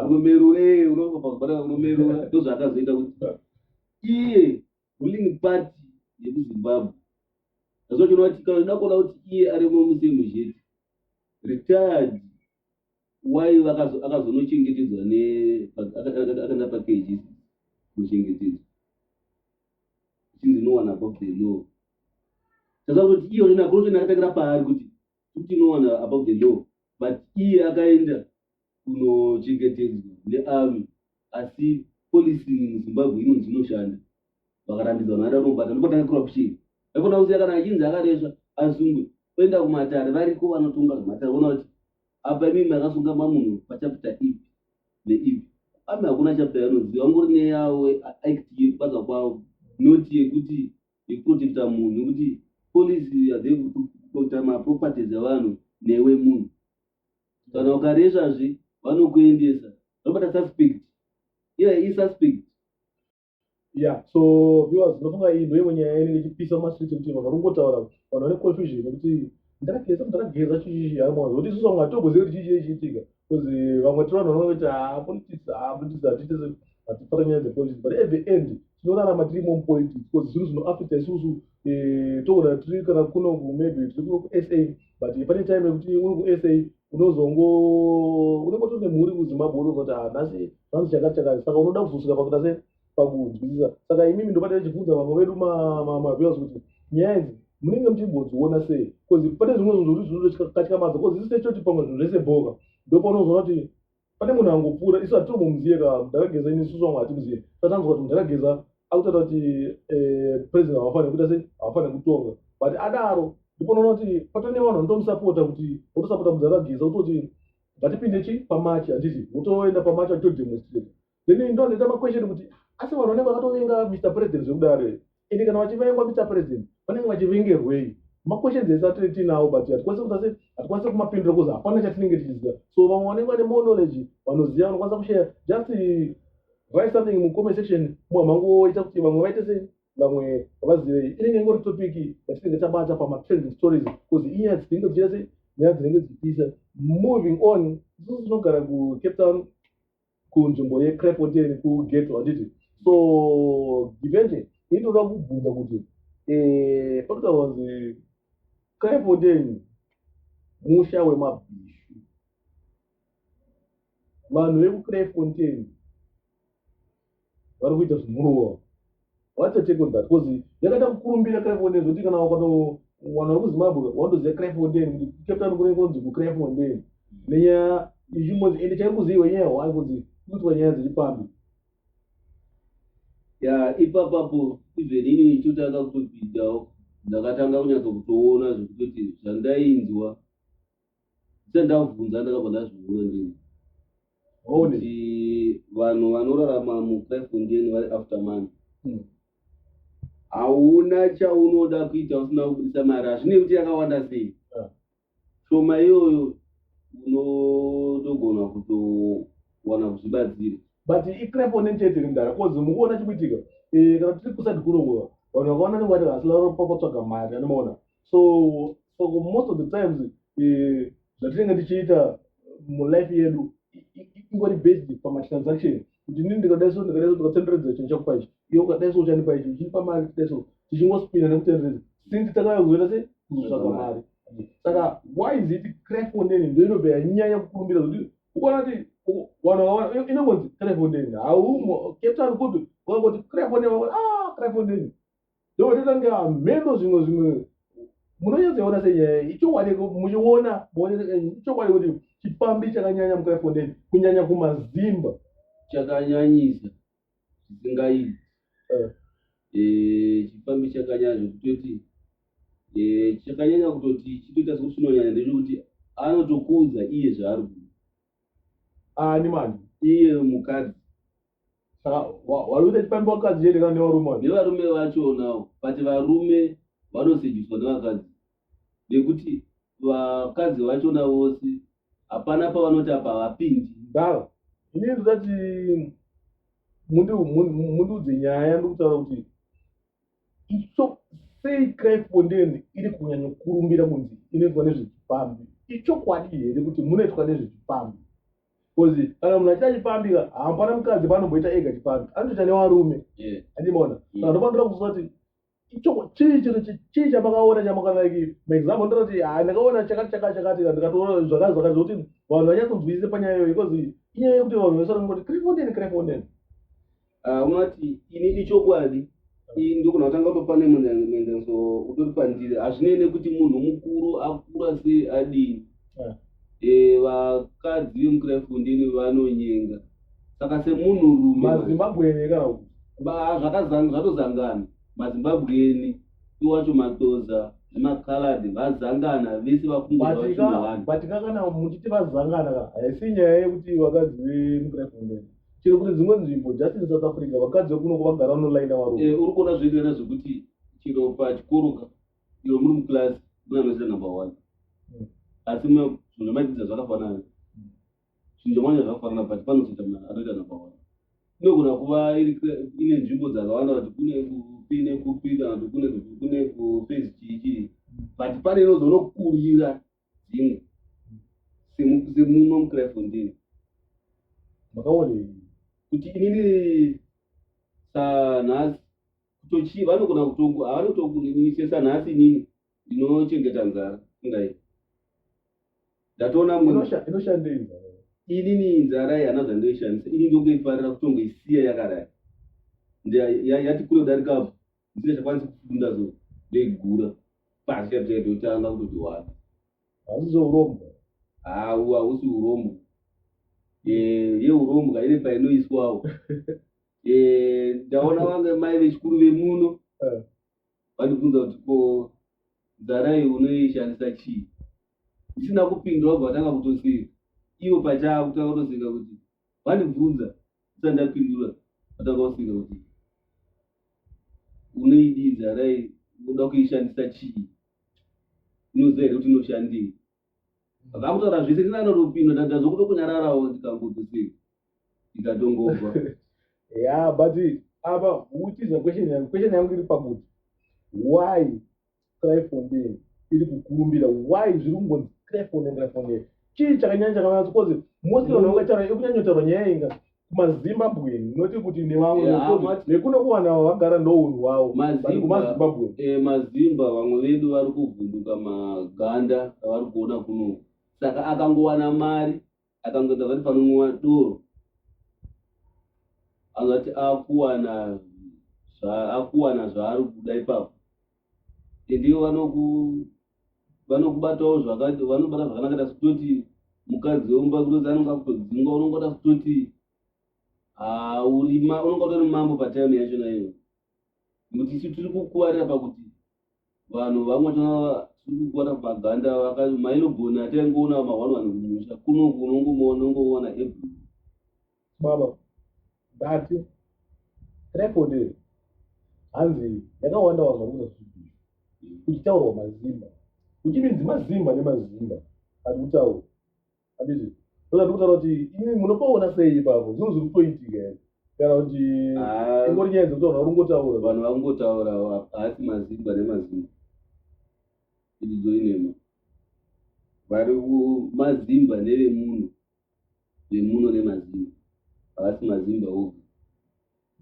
unomerura unomerura ndozvaakazoita kuti iye ruling party yekuzimbabwe azvachona kuti kana uda kuona kuti iye ari mamusemu zvete retired why vakazo- akazonochengetedzwa ne pa- aka- aka- aka- akaenda pakeji kuchengetedzwa chinzi no one above the law saka kuti iye unena corruption akatangira paari kuti kuti no one above the law but iye akaenda kunochengetedzwa nearmy asi policy muzimbabwe inonzi inoshanda vakarambidzwa vanhu vada kunobata ndopatanga corruption haikona kuziya kana achinzi akaresva asungwe oenda kumatare variko vanotonga zvematare vona kuti apa imi makasunga mamunhu pachapita ipi neipi ami hakuna chapita yanoziva vangori neyawo act yekubasa kwavo not yekuti yekuprotecta munhu nekuti policy yadekuprotecta maproperties evanhu newe munhu kana ukaresvazve vanokuendesa vanobata suspect iya i suspect ya so viewers ndinofunga iyi ndoimwe nyaya ine ndichipisa mumastreet ekuti vanhu vakungotaura vanhu vane confusion nekuti ndakageza ndakageza chichichi haimwazo kuti isusu vamwe hatogozivi kuti chichii chiitika bcause vamwe tiri vanhu vanovaita ah, politics ah, politics hatitese hatipara nyaya dzepolitics but at the end tinorarama tiri imomo politics because zvinhu zvinoafecta isusu eh, toona tiri kana kuno maybe tiri kuno kusa but pane time yekuti uri kusa unozongo unenge tone mhuri kuzimbabwe unozoti ah, nhasi hanzi chakati chakati saka unoda kuzosvika pakuita se pakunzwisisa saka imimi ndobatira chibvunza vamwe vedu maviewers kuti nyaya idzi munenge muchimbodziona sei bcause pane zvimwe zvinhu zvokuti zvinotokatyamaza bcause zisitechoti pamwe zvinhu zvese boka ndopaunozoona kuti pane munhu angopfuura isu hatiri mumuziye ka ndakageza ini isusu vamwe hatimuziye tatanzwa kuti ndakageza akutaura kuti eh, president havafanire kuita sei havafanire kutonga but adaro ndipo noona kuti patone vanhu vanotomusapota kuti votosapota mudzi akageza kutoti ngatipinde chi pamachi handiti votoenda pamachi vachitodemonstrate then ini ndonoita maquestion kuti asi vanhu vanenge vakatovenga mr president zvekudaro here ende kana vachivengwa mr president vanenge vachivengerwei maquestions ese atiri tiinawo but hatikwanise kutase hatikwanise kumapindura bcause hapana chatinenge tichiziva so vamwe vanenge vane more knowledge vanoziva vanokwanisa kushaya just write something mucomment section muhamangoita kuti vamwe vaite sei vamwe vazivei inenge ingori topic yatinenge tabata pamatrending stories bcause inyaya dzinenge dzichiita sei nyaya dzinenge dzichipisa moving on isusu tinogara kucape town kunzvimbo yecrefontain kugeto handiti so givene inoda kubvunza kuti eh, pakutaura kunzi clefoden musha wemabhishu vanhu vekuclefontain vari kuita zvimurowa what's a take on that bcause yakaita kukurumbira crifondeni zvokuti kana wakanowana uri kuzimbabwe wandoziva crifondeni kuti cape town kunenge kunonzi kucrifondeni nenyaya yechimodzi ende chairi kuziva nyaya hwai kunzi kuitwa nyaya dziri pambi ya ipapapo even ini ndichitotanga kutobhidawo ndakatanga kunyatsa kutoona zvekutoti zvandainzwa sendakubvunza ndakabva ndazvivhura ndini kuti vanhu vanorarama muclefondien vari after money hmm. hauna chaunoda kuita usina kubudisa mari hazvine kuti yakawanda sei ah. shoma iyoyo unotogona kutowana kuzvibatsira but iclefonden chete rimdara bcause mukuona chikuitika eh, kana tiri kusati kurongova vanhu vakaona nevati vasilaropa kwatsvaga mari anomaona so saka most of the times eh, zvatinenge tichiita mulife yedu ingori based pamatransaction kuti nini ndikadai so ndikadai so ndikatenderedza chinhu chakupa ichi iyo ukadai so uchandipa ichi uchindipa mari kudai so tichingospina nekutenderedza since takauya kuzoita se kuzotsvaga mari saka why is it crefondeni ndo inobva yanyanya kukurumbira kuti ukaona kuti vanhu vakaona inongonzi crefondeni haumo captain kupi vakangoti crefondeni vakoti ah crefondeni Ndotoita kunge hameno ah, zvimwe zvimwe munonyatsoona senyaya ichokwadi muchiona ichokwadi kuti chipfambi chakanyanya mukaifondeni kunyanya kumazimba chakanyanyisa zvisingaiti eh. eh, chipfambi chakanyanya zvekutoti eh, chakanyanya kutoti chitoita sokuti chinonyanya ndechekuti anotokuudza iye zvaari kuda ani mani iye mukadzi saka warume tipambe vakadzi chete kana nevarume nevarume vachonawo but varume vanosediswa nevakadzi nekuti vakadzi vachona vose hapana pavanoti apa havapindi ndava ini ndizati mundiudze nyaya ndikutaura kuti icho sei crime fonden iri kunyanya kukurumbira kunzi inoitwa nezvechipambi ichokwadi here kuti munoitwa nezvechipambi bcause kana munhu achita chipambi hampana mukadzi panomboita ega chipambi anotoita nevarume andimaona mm. saka ndofanira kuziva kuti chii chiro chii chamakaona chamakanaiki maexample ndira kuti ha ndakaona chakati chakati chakati ndikatoona zvakati zvakati zvokuti vanhu vanyatsonzwisise panyaya iyoyo because inyaya yekuti vanhu vesara kuti crime fonden crime fonden Ah, unati ini ichokwadi ini ndogona kutanga kutopa nemuendenso utori pandiri hazvinei nekuti munhu mukuru akura sei adini Ah. Eh, vakadzi vemukiraifundini vanonyenga saka semunhurume mazimbabwe ene kana kuti Ba- zvakazang- zvatozangana mazimbabweni iwacho matoza nemakaladi vazangana vese vakungura vachinohana batika kana muchiti vazangana ka haisi nyaya yekuti vakadzi vemukiraifundeni chero kune dzimwe nzvimbo just in south africa vakadzi vekunoko vagara vanolaina varume Eh, uri kuona zvoenderana zvekuti chero pachikoro ka iro muri muclass mune anoita number one Mm. asi mwe zvinhu zvamaidzidza zvakafanana zvinhu zvamanya zvakafanana but panozoita mwana anoita number one inogona kuva iri kre- ine nzvimbo dzakawanda kuti kune kupi nekupi kana kuti kune kupi kune kuphase chii chii but pane inozonokurira dzimwe semuno mucrefondini makaone kuti inini sanhasi kutochii vanogona kutongu havanotokuninise sanhasi inini ndinochengeta nzara ingai ndatoona inoshandei nzara inini nzara iyi hana zvandoishandisa ini ndongoifarira kutongoisiya yakadai yati kunodarikapo ndisina chakwanisi kufunda so ndaigura pasi chapi chaito otanga kutoti wani hausi zvourombo hau hausi urombo Eh, yeurombwa ine painoiswawo Eh, ndaona vange mai vechikuru vemuno Eh. vandibvunza kuti ko nzarai unoishandisa chii ndisina kupindura vabva vatanga kutoseka ivo pachavo kutanga kutoseka kuti vandibvunza ndisati ndapindura vatanga kusika kuti unoidii nzarai unoda kuishandisa chii inoziva here kuti inoshandei vakutaura zvese ndina anotopinda ndadazwa kuto kunyararawo ndikangotosei ndikatongova ya but apa uchizwa question yangu question yangu iri pakuti why Kraifondin iri kukurumbira why zviri kungonzi Kraifondin Kraifondin chii chakanyanya chakavanatso kozi mostly vanhu vangataura ikunyanyotaurwa nyaya inga kumazimbabwen noti kuti nevamwe nekuno kuvanhu ava vagara nounhu wavo kumazimbabwen eh, mazimba vamwe vedu vari kuvhunduka maganda avari kuona kunoku saka akangowana mari akanzwa ndavari panonwiwa doro angati akuwana akuwana zvaari kuda ipapo ndivo vanokubatawo zvakati vanobata zvakanaka ta kutoti mukadzi wemba kutozi anenge akutodzingwa unongoda kutoti haurima unongotori mambo patime yacho naiyo nekuti isu tiri kukuwarira pakuti vanhu vamwe tiri kukuwara paganda mailoboni ataingoona mahwani vanhu kumusha kuno kunongomuona unongoona every baba that record hanzi yakawanda vanhu vari kuda zvidii kuchitaurwa mazimba kuchibinzi mazimba nemazimba ari kutaurwa handiti saka ndikutaura kuti imi munopaona sei ipapo zvinhu zviri kutoitika here kana kuti ah. ingori nyaya dzekutaura uri ngotaura vanhu vakungotaura haasi mazimba nemazimba ididzo inema vari mazimba nevemuno vemuno nemazimba haasi mazimba oga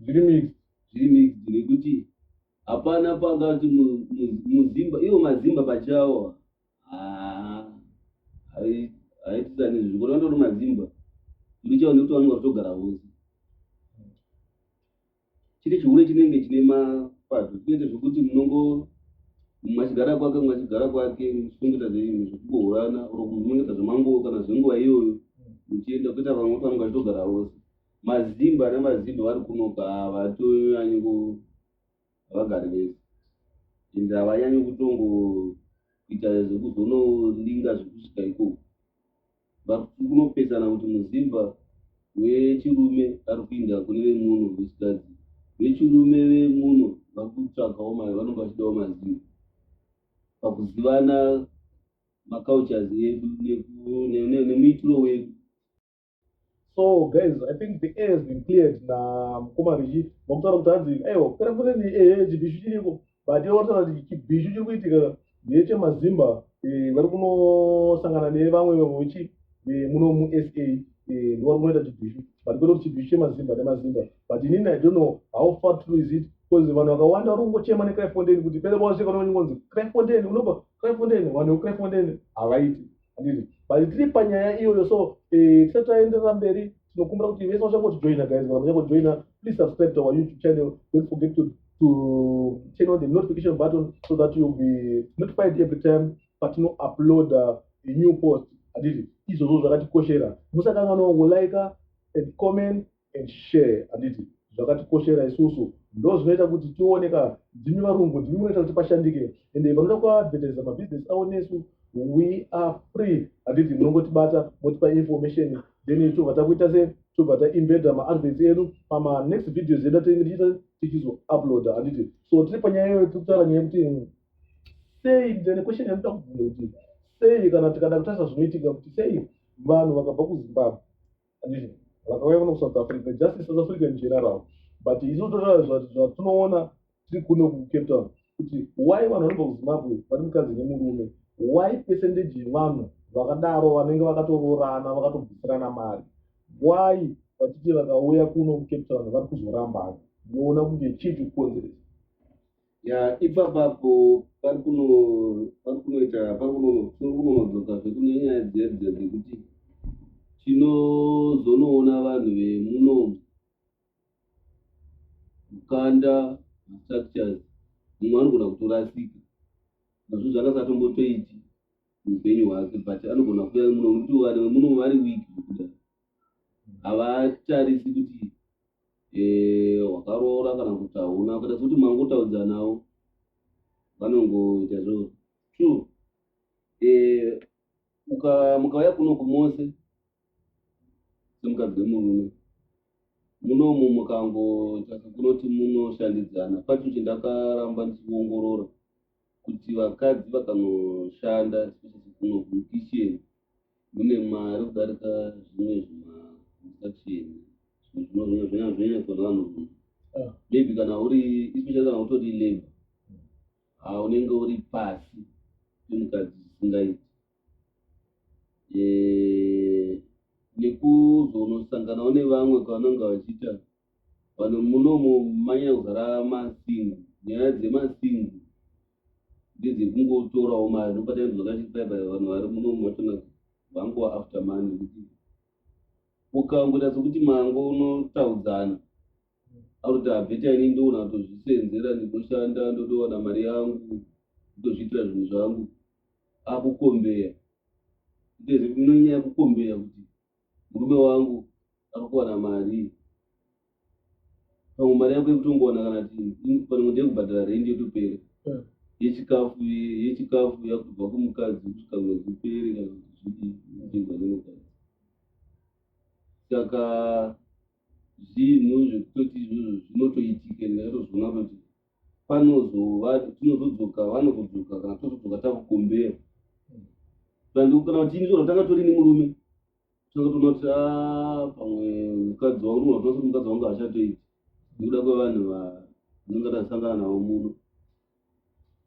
zviri mix zviri mix nekuti hapana pangati muzimba ivo mazimba pachawo haitisanizvi zvikona vatoro mazimba ndichawa nekuti vanonga kutogara vose chiri chihure chinenge chine mapato kuite zvekuti munongo machigara kwake machigara kwake muchitongeta zveimwe zvekubohorana or kunongeta zvemanguo kana zvenguva iyoyo muchienda kuita vamwe panonga chitogara vose mazimba nemazimba vari kunoka havatonyanye havagari vese ende havanyanyi kutongo kuita zvekuzonodinga zvekusvika ikoko but kunopesana kuti muzimba wechirume ari kuinda kune vemuno vechikadzi vechirume vemuno vakutsvagawo mari vanonge vachidawo mazivo pakuzivana macultures edu nemuitiro wedu so guys i think the air has been cleared namukoma richi vakutaura kuti hanzi aiwa kupera kureni ehe chibhishu chiriko but iwataura kuti chibhishu chiri kuitika ndechemazimba eh, vari kunosangana nevamwe vechi eh, muno musa eh, ndivari kunoita chibhishu but kwete kuti chibhishu chemazimba nemazimba but inini i don't know how far true is it bcause vanhu vakawanda vari kungochema necryfontein kuti pele kwavasvika noonyi kunzi cryfontein unobva cryfontein vanhu vecryfontein havaiti handiti but tiri panyaya iyoyo so eh, tisati taenderera mberi tinokumbira kuti vese vachangotijoina guys kana vachangojoina please subscribe to our youtube channel don't forget to to turn on the notification button so that you'll be notified every time patino upload uh, a new post handiti izvozvo zvakatikoshera musakanganwa kulika and comment and share handiti zvakatikoshera isusu ndo zvinoita kuti tione ka ndimi varungu ndimi munoita kuti pashandike ende vanoda kuadvertisa mabhizinesi avo nesu we are free handiti munongotibata motipa information then tobva takuita se tobva taimbeda maadvets edu pamanext videos edu atinenge tichiita tichizouploada handiti so tiri panyaya iyoyo tiri kutaura nyaya yekuti sei then question yanoda kubvunza kuti sei kana tikada kutarisa zvinoitika kuti sei vanhu vakabva kuzimbabwe handiti vakauya kuno kusouth africa justice south africa in general but isu totaura zvatinoona tiri kuno kucape town kuti why vanhu vanobva kuzimbabwe vari mukadzi nemurume why percentage yevanhu vakadaro vanenge vakatoroorana vakatobvisirana mari why vachiti vakauya kuno kucape town vari kuzorambana ndinoona kunge chii chikukonzeresa ya ipapapo pari kuno pari kunoita pari kunonodzoka zvekunenyaya dziya dziya dzekuti tinozonoona vanhu vemuno mukanda structures mumwe anogona kutorasika nazvo zvakasatombotoiti muupenyu hwake but anogona kuya muno muti vanhu vemuno vari wiki kuda havatarisi kuti eh, wakaroora kana kuti hauna kada kuti mangotaudzanawo vanongoita zvo true eh, mukauya kuno kumose semukadzi wemurume munomu mukangotsvaka kunoti munoshandidzana pacho chindakaramba ndichiongorora kuti vakadzi vakanoshanda kunokukichen mune mari kudarika zvimwe zvimakukichen zvinozvinazvinazvinavanhu ah. maybe kana uri especially kana utori labor ha unenge uri pasi pemukadzi zvisingaiti nekuzonosanganawo nevamwe kwavanonga vachiita Vanhu munomu manyanya kuzara masingu. Nyaya dzemasingu ndedzekungotorawo mari ndopatane zvakati baibai vanhu vari munomu vatona vangova after money kuti ukangoita sokuti mango unotaudzana akuti abveta ini ndoona kutozvisenzera ndinoshanda ndotowana mari yangu kutozviitira zvinhu zvangu akukombeya ndezvekunyanya kukombeya kuti murume wangu akuwana mari pamwe mari yako yekutongowana kana panenge ndeyekubhadhara rendi yotopera hmm. yechikafu yechikafu yakubva kumukadzi kusvika mwedzi upere kana zviiaeokadzi saka zvinhu zvekutoti izvozvo zvinotoitika ndingatozviona kuti panozova tinozodzoka vanozodzoka kana tozodzoka takukombera tandikukana kuti ini zvona tanga tori nemurume tanga tona kuti a ah, pamwe mukadzi wangu nona kuti mukadzi wangu hachatoiti nekuda kwevanhu vanonga tasangana navo muno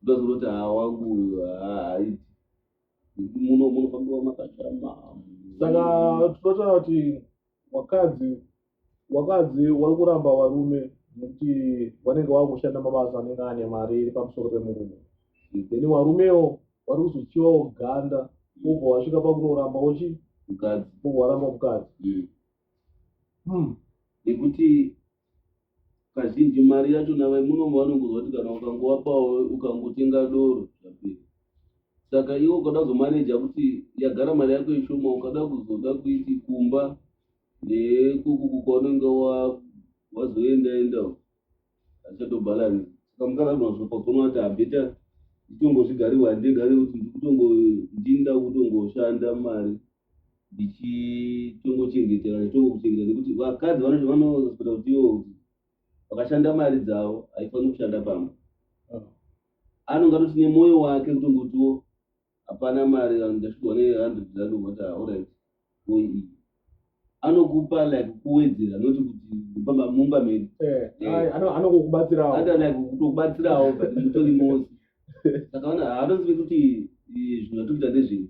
ndozoti kuti haa wangu haaiti nekuti muno munofambiwa makashama saka tinotaa kuti wakadzi wakadzi wari kuramba varume nekuti vanenge vava kushanda mabasa anenge ane mari iri pamusoro pemurume then varumewo vari kuzochivawo ganda obva wasvika pakunoramba uchi mukadzi obva waramba mukadzi hmm. nekuti kazhinji mari yacho navai munomu vanongonzwa kuti kana ukangovapawo ukangotenga doro zvapera saka iwe ukada kuzomaneja kuti yagara mari yako ishoma ukada kuzoda kuiti kumba nekukuku kwaunenge wazoenda enda hazichatobhalani saka mukadzi anozvapa kuona kuti habeta nditongozvigariwa handingari kuti ndikutongo ndinda kutongoshanda mari ndichitongochengetera ndichitongochengetera nekuti vakadzi vanoti vanozospota kuti iwo kuti vakashanda mari dzavo haifaniri kushanda pamba ah. anonge atoti nemwoyo wake kutongotiwo hapana mari ndasvigwa nehundred rand ungoti aorit ko iyi anokupa like kuwedzera not kuti pamba mumba medu eh, eh. anokubatsirawo ata like kutokubatsirawo but mutori mosi saka haatozive kuti eh, zvinhu zvatokuita ndezvei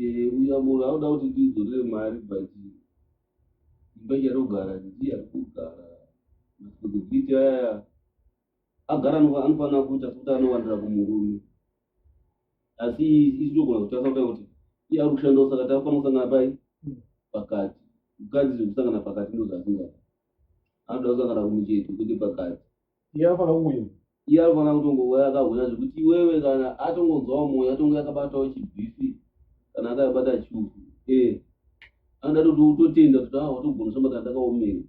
Eh, uya munhu anoda kuti ndidzorere mari but imba ichatogara ndiye ari kugara masekuvhiti aya agara anofa- anofanira kuita sokuti anowandira kumurume asi isi togona kutarisa kuda kuti iye ari kushandawo saka taafanira kusangana pai pakati mukadzi zvekusangana pakati ndozvaasingada anoda kusangana kumucheto kwete pakati iye anofanira kungouya iye anofanira kutongouya akahwina zvekuti iwewe kana atongonzwawo mwoyo atonge akabatawo chibhifi kana akabata chufu e eh, anoda toti utotenda kuti a ah, watogona samba kana takaomera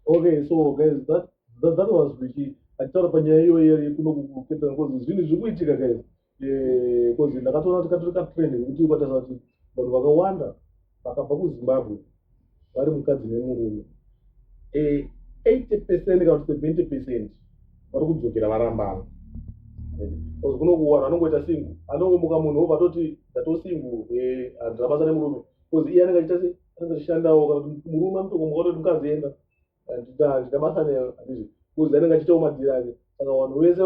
okay so guys that, that, that was richie achitaura panyaya iyoyo yekuno kuketa ngozi zvinhu zviri kuitika guys because ndakatoona kuti katori katrend nekuti ukatarisa kuti vanhu vakawanda vakabva kuzimbabwe vari mukadzi nemurume 80 eh, percent kana kuti 70 percent vari kudzokera varambana bcause kuno kuwanhu anongoita singu anongomuka munhu obva toti ndatosingu eh, handina basa nemurume bcause iye anenge achita se anenge achishandawo kana kuti murume anotokomuka toti mukadzi enda handina basa naye handizvo kuzi anenge achitawo madhiri ake saka vanhu vese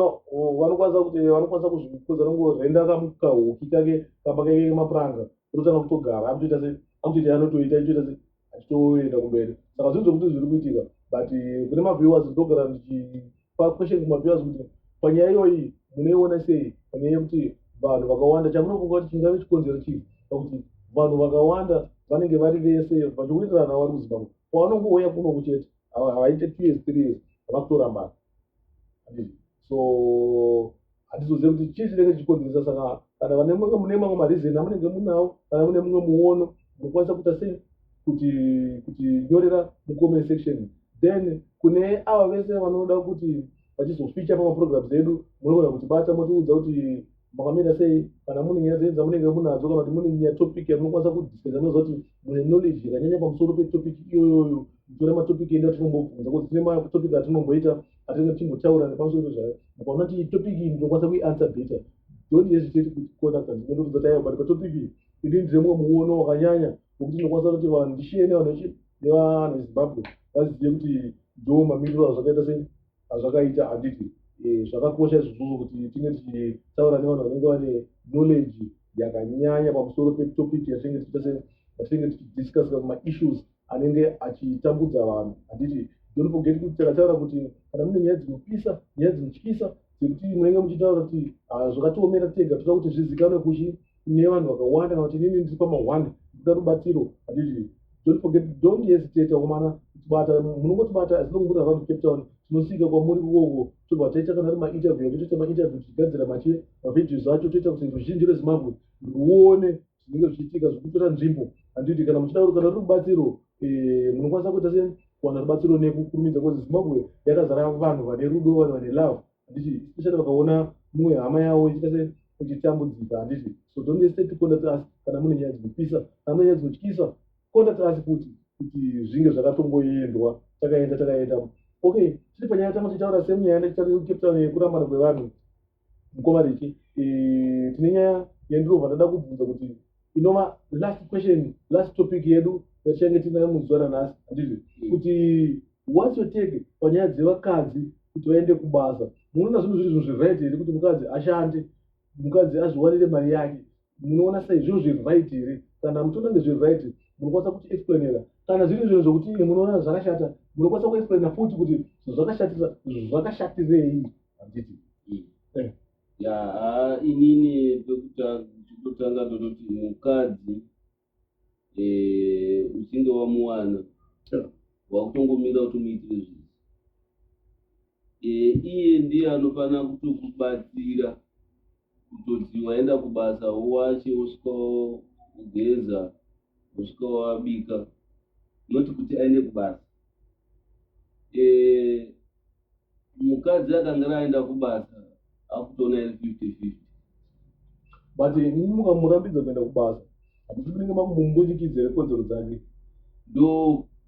vanokwanisa kuti vanokwanisa kuzvikuza nongorenda kahuki kake kamba kake kemapuranga ototanga kutogara akutoita se akutoita anotoita itoita se achitoenda kumberi saka zvinhu zvokuti zviri kuitika but eh, kune maviewers ndogara ndichipa question kumaviewers kuti panyaya iyoyi munoiona sei panyaya yekuti vanhu vakawanda chamunofunga kuti chingave chikonzero chii pakuti vanhu vakawanda vanenge vari vese vachiwirirana vari kuzimbabwe pavanongouya kunoku chete havaite two years three years vakutora mari so hatizozive kuti chii chinenge chichikonzeresa saka kana vane mumwe mune mamwe marizeni amunenge munawo kana mune mumwe muono munokwanisa kuita sei kuti kuti nyorera mucomment section then kune ava vese vanoda kuti vachizoficha pamaprograms edu munogona kutibata motiudza kuti makamira sei kana mune nyaya dzenyu dzamunenge munadzo kana kuti mune nyaya topic yamunokwanisa kudiscusa munoziva kuti mune knowledge yakanyanya pamusoro petopic iyoyoyo mutora matopic edu atinombobvunza kuti tine matopic atinomboita atinenge tichimbotaura nepamusoro pezvayo mukaona kuti topic iyi ndinokwanisa kuianswer better don't hesitate kuti contact us ndotoudza tayo but patopic iyi ini ndine mumwe muono wakanyanya wekuti ndinokwanisa kuti vanhu ndishiye nevanhu nevanhu vezimbabwe vazive kuti ndo mamiriro azvakaita sei azvakaita handiti eh, zvakakosha izvozvozvo kuti tinge tichitaura nevanhu vanenge vane knowledge yakanyanya pamusoro petopic yatinenge tichita yatinenge tichidiscussa maissues anenge achitambudza vanhu handiti don't forget kuti takataura kuti kana mune nyaya dzinopisa nyaya dzinotyisa dzekuti munenge muchitaura kuti ah, zvakatiomera tega toda kuti zvizikanwe kuchi kune vanhu vakawanda kana kuti inini ndiri pamahwanda ndikuda rubatsiro handizvi don't forget don't hesitate akomana kutibata munongotibata as long muri around cape town tinosvika kwamuri kuwoko tobva taita kana ari mainterview yake toita mainterview tichigadzira mache mavideos acho toita kuti ruzhinji rezimbabwe ruone zvinenge zvichiitika zvekutora nzvimbo handiti kana muchida uri kana rubatsiro eh, munokwanisa kuita sei kuwana rubatsiro nekukurumidza bcause zimbabwe yakazara vanhu vane rudo vanhu vane love handiti especially vakaona mumwe hama yavo ichiita se ichitambudzika handiti so don't hesitate to contact us kana mune nyaya dzinopisa kana mune nyaya dzinotyisa contact us futi kuti zvinge zvakatongoendwa takaenda takaenda okay tiri panyaya tanga tichitaura same nyaya necape town yekurambana kwevanhu mukoma richi eh, tine nyaya yandirova ndada kubvunza kuti inova last question last topic yedu yatichange tinayo muzuva ranhasi handizvo mm. kuti whats your take panyaya dzevakadzi kuti vaende kubasa munoona zvinhu zviri zvinhu zviright here kuti mukadzi ashande mukadzi azviwanire mari yake munoona sei zvinhu zviright here kana muchiona kunge zviright munokwanisa kuti explainera kana zviri zvinhu zvokuti imwe munoona zvakashata munokwanisa kuexplaina futi kuti zvakashatira zvakashatirei handiti mm. eh. Yaa inini pekutanga ndototi mukadzi eh, uchinge wamuwana wakutongomira kuti muitire zvinhu eh, iye ndiye anofanira kutokubatsira kutoti waenda kubasa uwache usvika ugeza usvika wabika not kuti aende kubasa eh, mukadzi akange aenda kubasa akutoona iri fifty fifty but mukamurambidza kuenda kubasa handiti kunenge makumumbunyikidza here kodzero dzake ndo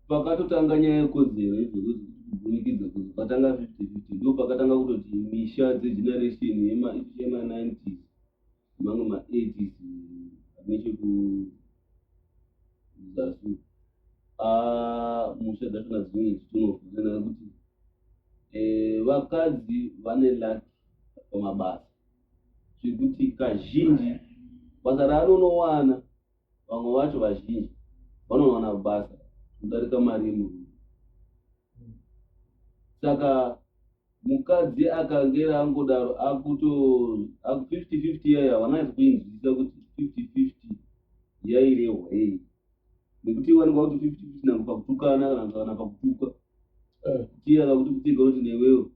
pakatotanga nyaya yekodzero idzokuti kubunikidza kuti patanga fifty fifty ndo pakatanga kutoti misha dzegeneration yema ninety mamwe maedis nechekuzasi musha dzacho nadzimwe dzichinofunana kuti eh, vakadzi vane laki pamabasa zvekuti kazhinji basa raanonowana Vamwe vacho vazhinji vanowana basa kudarika mari yemurume. Saka mukadzi akangera angodaro akuto aku 50-50 yai havanasi kuinzwisisa kuti 50-50 yairehwa yei. Nekuti wanikwa kuti 50-50 nangu pakutukana kana kuti kana pakutukwa. Eh. Tiya kakuti kutika kuti newewo.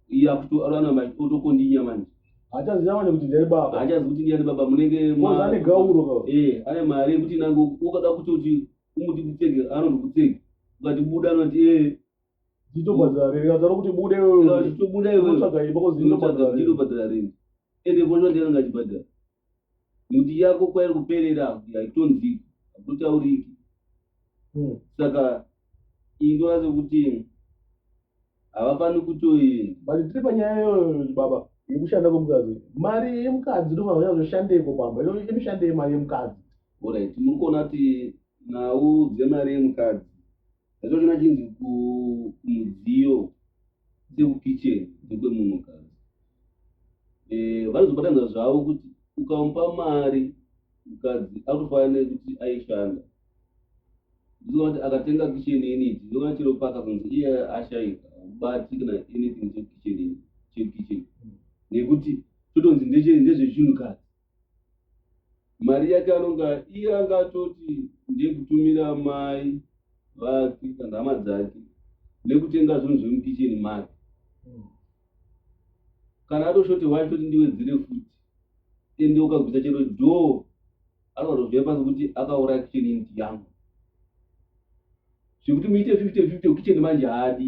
iye akutorana manje otokondinya manje hachaziva manje kuti ndiani baba hachazi kuti ndiani baba munenge Mwanza ane gauro ka eh ane mari yekuti nango ukada kutoti umuti kutsege anoti kutsege ukati buda anoti eh nditobhadhara rei kazara kuti bude wewe nditobuda iwe unotsvaga imba kozi nditobhadhara rei nditobhadhara rei ende kosha ndiani ngachibhadhara Miti yako kwairi kuperera haku- haitonziki hakutauriki Hmm. saka iyi ndona sekuti havafaniri kutoi but tiri panyaya iyoyo baba yekushanda kwemukadzi mari yemukadzi ndofanira kuzoshandeiko pamba Ino- inoshandei mari yemukadzi orit muri kuona kuti nhau dzemari yemukadzi Zvazvona chinzi kumudziyo dzekukitchen dzekwemunhukadzi eh, vanozobatanidza zvavo kuti ukamupa mari mukadzi akutofanira nekuti aishanda ndizova kuti akatenga kitchen unit ndova chero paka kunzi iye ashaika ubati kana anything chekitchen chekitchen nekuti totonzi ndezvechinhukadzi Mari yake anonga iye anga atoti ndekutumira mai vake kana hama dzake nekutenga zvinhu zvemukicheni make kana atoshoti wacho kuti ndiwedzere futi ende ukagwisa chero dhoo anozozviya pasi kuti akauraya kicheni inti yangu zvekuti muite fifty fifty kicheni manje haadi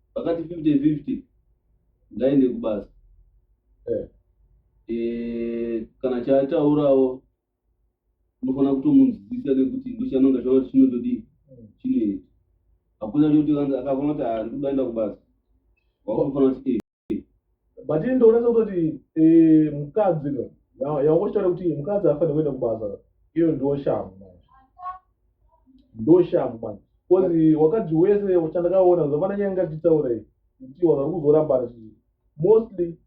vakati 50 50 ngaende kubasa Eh. Eh, kana chaataurawo unofanira kutomunzwisisa nekuti ndochanonga chaona kuti chinotodii chinoita hakuna choti akaona kuti "Ah, ndikudaenda kubasa wakutofanira kuti "Eh, but ini ndoona sekuti eh, mukadzi yawangochitaura kuti mukadzi afanire kuenda kubasa iyo ndo shamhu manje ndo shamhu manje bcause wakadzi wese chandakaona zvapana nyaya ngatichitaura iyi kuti wazari kuzorambana chii mostly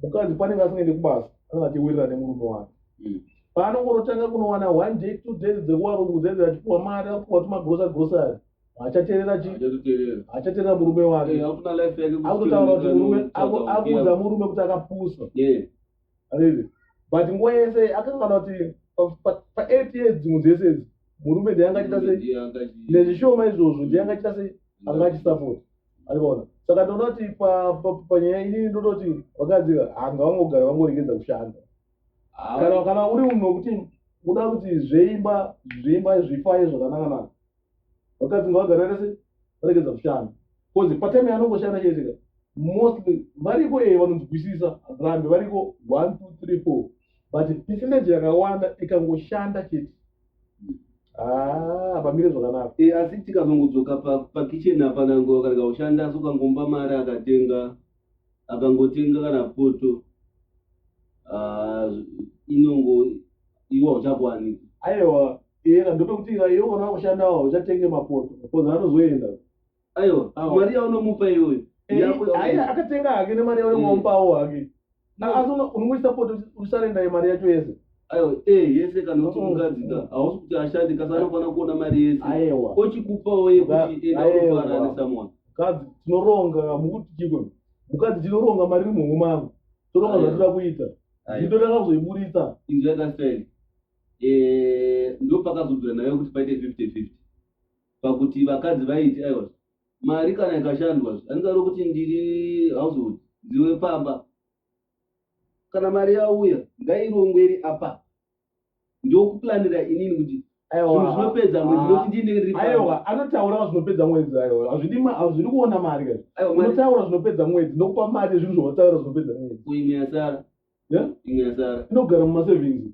mukadzi panenge asingaende kubasa anenge achiwirira nemurume wake hmm. paanongorotanga kunowana one day two days dzekuwakudzaidzira achipuwa mari akupuwa tumagrosa grosari haachateerera chi Haachateerera. haachateerera murume Eh, wake hakuna life yake kuswera akutotaura kuti nekarume, murume tsvaga aku- akuudza kukiya. murume kuti akapusa Yeah. Ariri. but nguva yese akangana kuti pa- pa- pa 8 years dzimwe dzese idzi murume ndiye angachiita sei Ndiye angachi- nezvishoma izvozvo ndiye angachiita sei angachisapoti arikuona saka ndinoda kuti pa- pa- panyaya inini ndoda kuti vakadzi hanga vangogara vangoregedza kushanda Ah, kana kana uri munhu wekuti unoda kuti zveimba zveimba zvifaye zvakanaka naka vakadzi ngavagara rese varegedza kushanda bcause patime yanongoshanda chaizika mostly variko ee vanonzwisisa rambe variko one two three four but percentage yakawanda ikangoshanda chete Ah, pamire zvakanaka e, asi tikazongodzoka pakitchen pa apana ngo akarega kushanda asi ukangomba mari akatenga akangotenga kana poto ah, inongo iwo hauchakwaniki aiwa iyena ndopekuti iwo kana wakushandawo uchatenge mapoto bcause anozoenda aiwa mari yaunomupa iyoyo akatenga hake nemari yaunomupawo hake asi unongoisa poto usarenda mari yacho yese aiwa eh yese kana kuti mukadzi ka hausi kuti ashandi kasi anofana kuona mari yese aiwa ochikupawo yekuti enda unofara nesomeone kadzi tinoronga mukuti chiko mukadzi tinoronga mari iri muhuma yangu toronga zvatoda kuita zvido takazoiburitsa inzwi yakasel eh, ndo pakazobvira nayo kuti paite fifty fifty pakuti vakadzi vaiti aiwa mari kana ikashandwa andingaro kuti ndiri household ndiwe pamba kana mari yauya ngairongwe iri apa ndokuplanira inini kuti zvinopedza mwedzi nokuti ah. ndinenge ndiri aiwa anotaura zvinopedza mwedzi aiwa hazvidi hazvidi kuona mari ka unotaura zvinopedza mwedzi ndokupa mari yezvinhu zvawataura zvinopedza mwedzi imwe yasara imwe yasara inogara mumasavings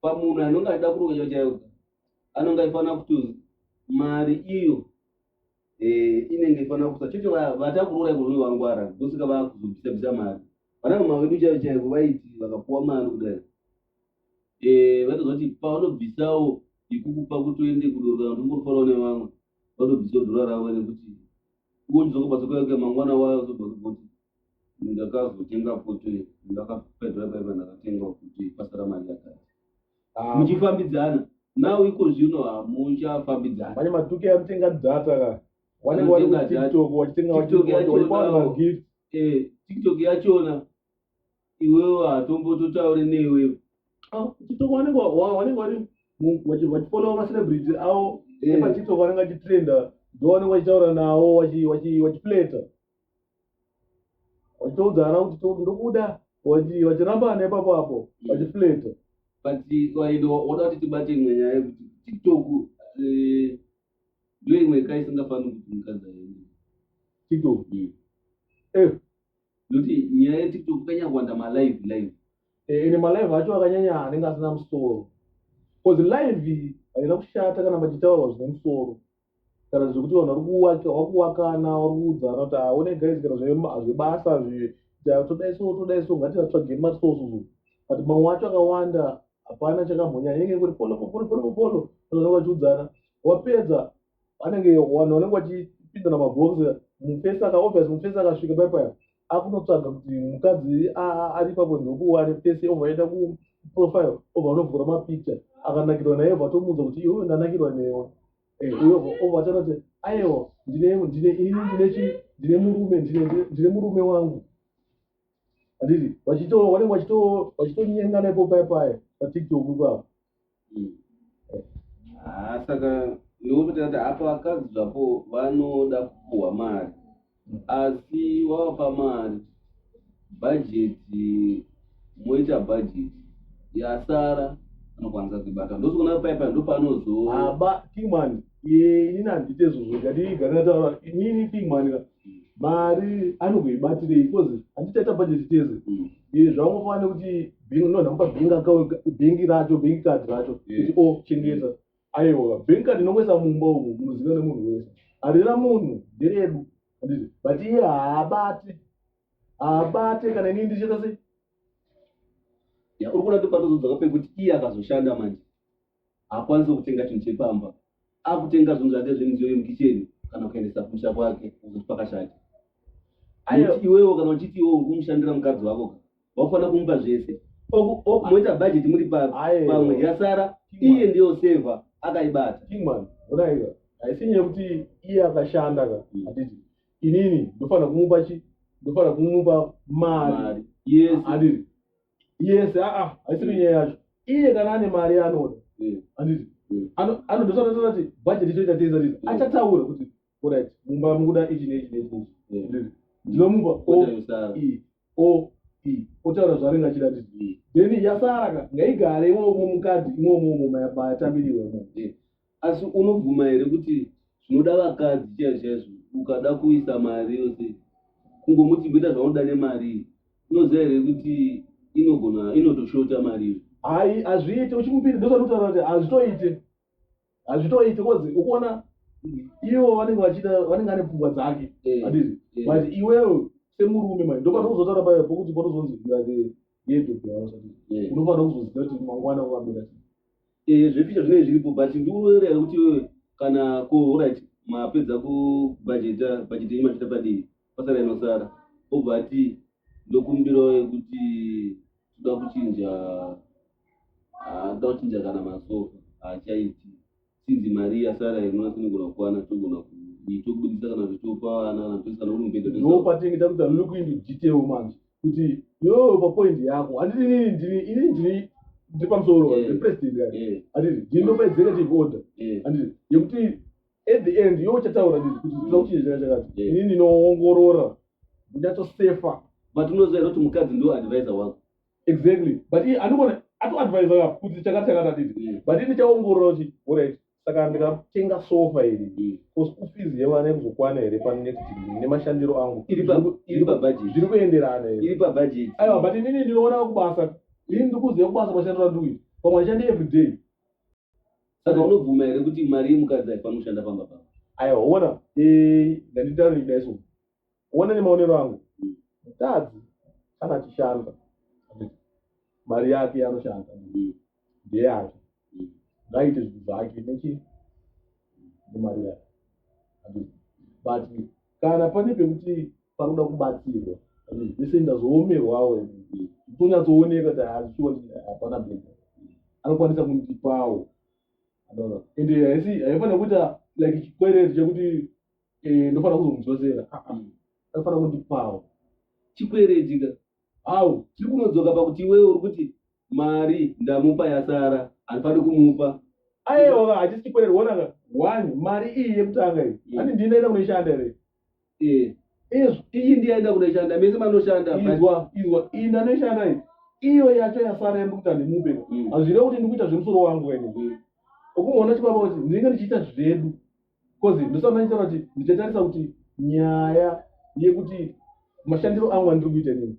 pamunhu anonge achida kuroka chaiwo chaiwo anonge aifanira kuti mari iyo eh, inenge ifanira kusa chete vatakuroora ikonoe vangwara ndosika vakuzobvisa bvisa mari vanamama vedu chaivo chaivo vaiti vakapuwa mari kudai eh, vatozoti pavanobvisawo ikukupa kuti uende kudorora kuti ungorifarawo nevamwe vatobvisawo dhora ravo nekuti uonizokobasa kuyakuya mangwana wayo zobva kuti ndakazotenga poto ndakapedza paiva ndakatenga kuti pasara mari yakati ah. muchifambidzana nawo iko zvino hamuchafambidzana manye matuke atenga data ka wanenge wari kutiktok wachitenga wachivagift eh, tiktok yachona iwewo hatombototaure newe ah, tiktok wanenge wari wachifollowa macelebrity awo eh. epatiktok wanenge achitrenda ndowanenge wachitaura nawo wachipleta Vachiudza ana kuti toti ndokuda vachi- vachirambana ipapo apo vachifleta. but kwaenda wada kuti tibate imwe nyaya yekuti tiktok eh, ndiyo imwe ka isingafaniri kuti mukadzi aende TikTok. Eh, nokuti nyaya yetiktok kanyakuwanda malive live eh, ende malive acho akanyanya anenge asina musoro. Cause live haina kushata kana pachitaurwa zvine musoro. kana zvekuti vanhu vari kuwaka vari kuwakana vari kuudzana kuti aone ah, guys kana zvebasa todai so todai so ngativatsvage mari so so but mamwe wacho akawanda hapana chakamhonya inenge kuti polo polo polo polo vanenge vachiudzana wapedza anenge vanhu vanenge vachipindana mabhox mufesi aka obvious mufesi akasvika pai paya akutotsvaga kuti mukadzi ari papo ndokuware pese obva aenda kuprofile obva anovhura mapicture akanakirwa naye obva atomuudza kuti iwewe ndanakirwa newe eh, uyo obva ataura kuti aiwa ndine ndine ini ndine chi ndine murume ndine ndine murume wangu anditi vachito vanenge vachito vachitonyengana ipo paye paye patiktok ipapo haa ah, saka ndikupita kuti apa vakadzi zvapo vanoda kupuhwa mari asi wavapa mari bhajeti moita bhajeti yasara anokwanisa kuibata ndozoona paipa ndopanozoaba kingman inini handite izvozvo ngatiiganataura inini kingman mari anogoibatirei because handichaita budget tese mm. eh, zvaungofanira nekuti nonhamupa bank account bank racho bank card racho kuti o oh, chengeta aiwa bank card inongoisa mumba umu munoziva nemunhu wese harina munhu nderedu anditi but iye haabate haabate kana inii ndichita sei uri kuda topatozodzaka pekuti iye akazoshanda manje haakwanisi kutenga chinhu chepamba akutenga zvinhu zvake zvemidziyo yemukicheni kana kuendesa kumusha kwake kuti pakashata iwewo kana uchiti iwewo ukumushandira mukadzi wako wakufanira kumupa zvese moita bhajeti muri pamwe yasara iye ndiyo seva akaibata haisi nyaya yekuti iye akashanda ka hmm. atiti inini ndofanira kumupa chi ndofanira kumupa mari yes atiti yes aa haisiri nyaya yacho iye kana ane mari yaanoda anditi anodosaaati budget itoita teza tii achataura kuti orit mumba mukuda ichi neichi neichi neichi ndinomupa o e o e otaura zvaanenge achida nditi then yasaraka ngaigare imomo mukadzi imomo momo mayatambiriwa imomo asi unobvuma here kuti zvinoda vakadzi chaivo chaizvo ukada kuisa mari yose kungomuti mboita zvaunoda nemari unoziva here kuti inogona inotoshota mari iyo hai hazviite uchimupiri ndozvanotaura kuti hazvitoite hazvitoite kozi ukuona ivo vanenge vachida vanenge ane pfungwa dzake eh, adii eh. but iwewo semurume mai ndopatokuzotaura paya pokuti potozonzi irae yedobeausati eh. unofanira kuzoziva kuti mangwana ukambira Eh, zveficha zvinenge zviripo but ndikuroera here kuti iwewe kana ko orit mapedza kubhajeta bhajeti yenyu machita padii pasara inosara obva ati ndokumbirawo yekuti toda kuchinja ah, toda kuchinja kana masofa haachaiti sinzi mari yasara inona tinogona kukwana togona tokubudisa kana zvitopa vana kana toisa kana uri mubhedha no patinge takuti look into detail manje kuti yoo papoint yako handiti nini ndini ini ndini ndiri pamusoro eh. represident ka eh. handiti ndini ndopaedzeka tivoda eh. handiti yekuti at the end yoo chataura nditi kuti tinoda kuchinja chaka chakati ini ndinoongorora ndinyatsosefa but unoziva here kuti mukadzi ndo advisor wako exactly but anogona atoadvisor ka kuti chakati chakati handiti but ini chaongorora kuti orit saka ndikatenga sofa iri bcause mm. kufees yevana ikuzokwana here panext nemashandiro angu zviri kuenderana aiwa but inini ndinoona kubasa ini ndikuziva kubasa mashandiro andukuita pamwe ashandi everyday saka unobvuma here kuti mari yemukadzi haifani kushanda pamba paa aiwa ona ndanditauriri daiso one nemaonero angu mukadzi kana achishanda mari yake yanoshanda ndeyake ngaite zvinhu zvake nechi nemari yake but kana pane pekuti panoda kubatsirwa vese ndazoomerwawo tonyatsooneka kuti hazviwa hapana bhedha anokwanisa kundipawo ende haifanira kuita like chikwereti chekuti eh, ndofanira kuzomudzosera anofanira kuti pawo chikweretika awo chiri kunodzoka pakuti iwewe uri kuti mari ndamupa yasara handifaniri kumupa ayeoka hachisi chikwerero wonaka one mari iyi yekutanga iyi mm. ani ndinoenda kunoishanda here eh. iyi ndiyaenda kunoishanda mese manoshanda izwa izwa iyi ndanoishanda iyi iyo yacho yasara yandikuti handimupe mm. hazvireva kuti ndikuita zvemusoro wangu wene mm. ukumona chibaba kuti ndinenge ndichiita zvedu Kozi ndosana nitaura kuti ndichatarisa kuti nyaya yekuti mashandiro angu andiri kuita nini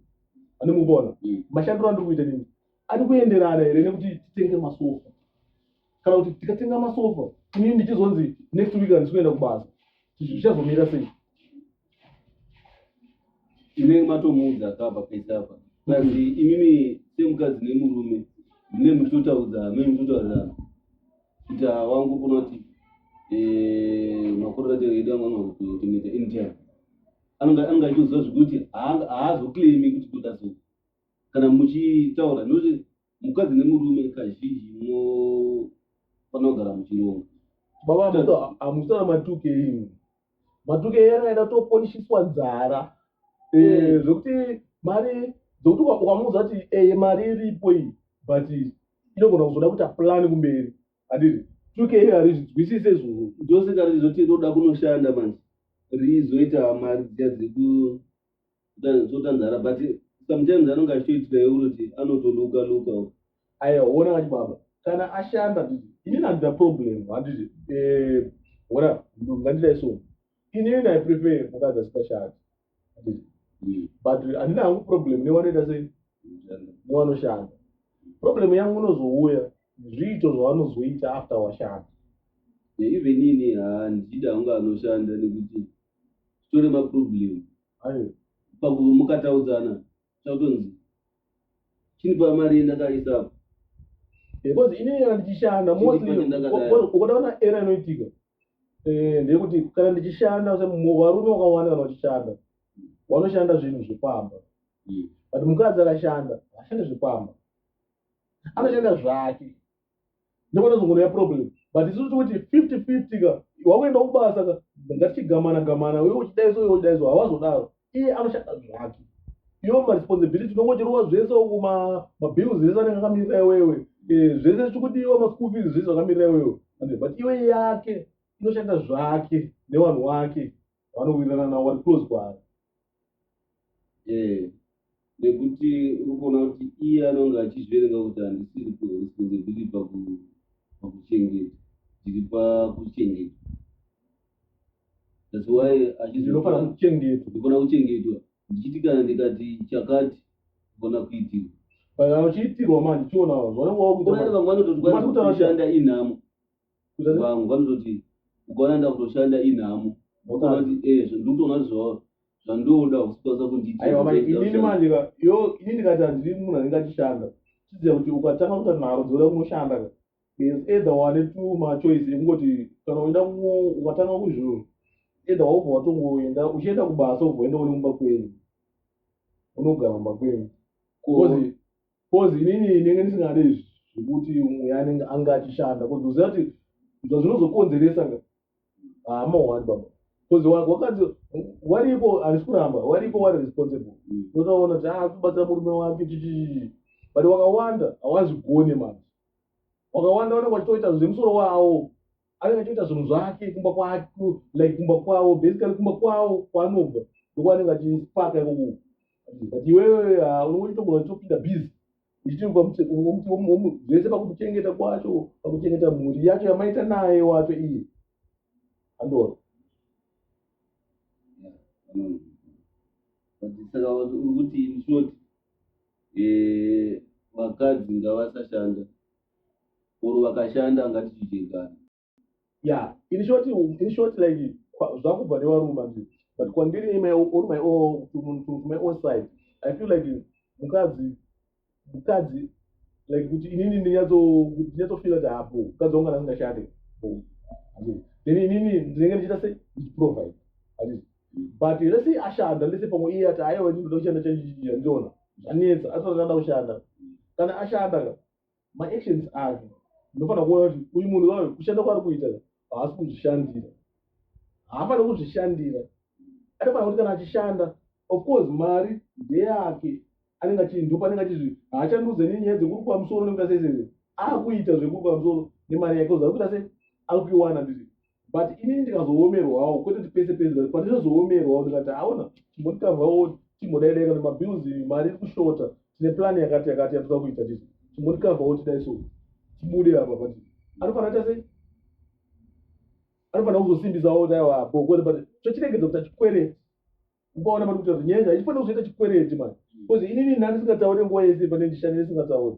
anemubona mm. mashandiro andiri kuita nini ari kuenderana here nekuti titenge masofa kana kuti tikatenga masofa inini ndichizonzi next week handisi kuenda kubasa zvichazomira sei inenge matomuudza akabva pese apa plus imimi semukadzi nemurume mune mutotaudza amene mutotaudzana kuita wangu kuna kuti eh, makororate edu anga anoakutotemeta anytime anenge achitoziva zvekuti haazoclaimi kuti kuda so kana muchitaura nokuti mukadzi nemurume kazhinji munofanira kugara muchironga baba amusana matuke imi matuke ena aida kutoponishiswa nzara eh, zvekuti mari dzekuti ukamuudza kuti eye eh, mari iripo iyi but inogona kuzoda kuita plani kumberi adiri tuke iri harizvinzwisise izvozvo ndosika rizoti inoda kunoshanda manje rizoita mari dziya dzekuti zvotanzara but sometimes anonge achitoitika yeuroti anotoluka luka aiwa ona wacho baba kana ashanda titi ini nandida problem handiti eh, ona ngandidai so ini ina i prefer mukadzi asingashandi handiti hmm. but handina hangu problem newanoita sei newanoshanda problem yangu unozouya zviito zvavanozoita after washanda even ini handida hangu anoshanda nekuti tore maproblem paguva mukataudzana chakutonzi chinipa mari yendakaisa apo because ini kana ndichishanda ukoda ona era inoitika eh, ndeyekuti kana ndichishanda varume wakawanda kana vachishanda wanoshanda zvinhu zvepamba hmm. but mukadzi akashanda ashande zvepamba anoshanda zvake nepanozongona ya problem but isu tikuti fifty fifty ka wakuenda kubasa ka ngatichigamana gamana uye uchidaiso uye uchidaiso hawazodaro iye anoshanda zvake iyo maresponsibility unongochirova zvese uku mabills ese anenge akamirira iwewe eh, zvese chikudiwa maschool fees zvese zvakamirira iwewe but iwe yake inoshanda zvake nevanhu wake vanowirirana navo vari close kwaari eh, nekuti uri kuona kuti iye anonge achizviverenga kuti handisiri responsibility pakuchengeta ndiri pakuchengeta thats why achizinofanira kuchengetwa ndikona kuchengetwa ndichiti kana ndikati chakati kona kuitirwa kana uchiitirwa ma ndichionawo zvanenge wakuita vamwe vanototi kwaa kushanda inhamo vangu vanototi ukaona ndakutoshanda inhamo ukaona kuti eh ndikutoona kuti zvawa zvandoda usipasa kunditi aiwa manje inini manje ka yo inini ndikati handiri munhu anenge achishanda chiziva kuti ukatanga kuta nharo dzoda kunoshanda ka is either wane two machoice ekungoti kana uenda ukatanga kuzvo either waubva watongoenda uchienda kubasa ubva uenda unemumba kwenyu unogara mumba kwenyu Cause inini ndenge ndisingade izvi zvekuti umwe anenge anga achishanda cause uziva kuti zvazvinozokonzeresa nga hama ah, wani baba cause wakanzi wariko handisi kuramba wariko wari responsible unotaona mm. kuti aa ah, kubatsira murume wake chichichii but wakawanda hawazvigone manje wakawanda vanenge vachitoita zvemusoro wawo anenge achitoita zvinhu zvake kumba kwake like kumba kwavo basically kumba kwavo kwaanobva ndokwaanenge achipaka ikoko but iwewe ah, unongochitogona uchitopinda busy zvese pakuchengeta kwacho pakuchengeta mhuri yacho yamaita naye wacho iye andoro saka uri kuti inshort eh, vakadzi ngavasashanda or vakashanda ngatichichengana yeah in short in short like zvakubva nevaruma nje but kwandiri my on my own to, to, to my own side i feel like mukadzi mukadzi like kuti inini ndinyatso kuti ndinyatso feel kuti hapo mukadzi wangu kana asingashande then inini ndinenge ndichiita se ndichiprovide but let's say ashanda let's say pamwe iye ati aiwa ndinoda kushanda chandiona zvanetsa atotanda kushanda kana ashanda ka maactions ake ndinofanira kuona kuti uyu munhu wayo kushanda kwaari kuita haasi kuzvishandira haafaniri kuzvishandira atofanira kuti kana achishanda of course mari ndeyake anenge achindopa anenge achizvi haachandiudze nenyaya dzekuri kwamusoro nekuita sese akuita zvekuri kwamusoro nemari yake uza kuita se akuiwana ndiri but inini ndikazoomerwawo kwete kuti pese pese but pandinozoomerwawo ndikati aona chimbonditambwawo chimbodaidaika nemabills mari iri kushota tine plani yakati yakati yatoda kuita tisu chimbonditambwawo tidai so tibude apa but anofanira ta sei anofanira kuzosimbisawo kuti aiwa apo kwete but chochiregedza kuti achikwereti ukaona mari kuti nyaya ichifanira kuzoita chikwereti mani bcause inini ndandisingataure nguva yese pane ndishani isingataure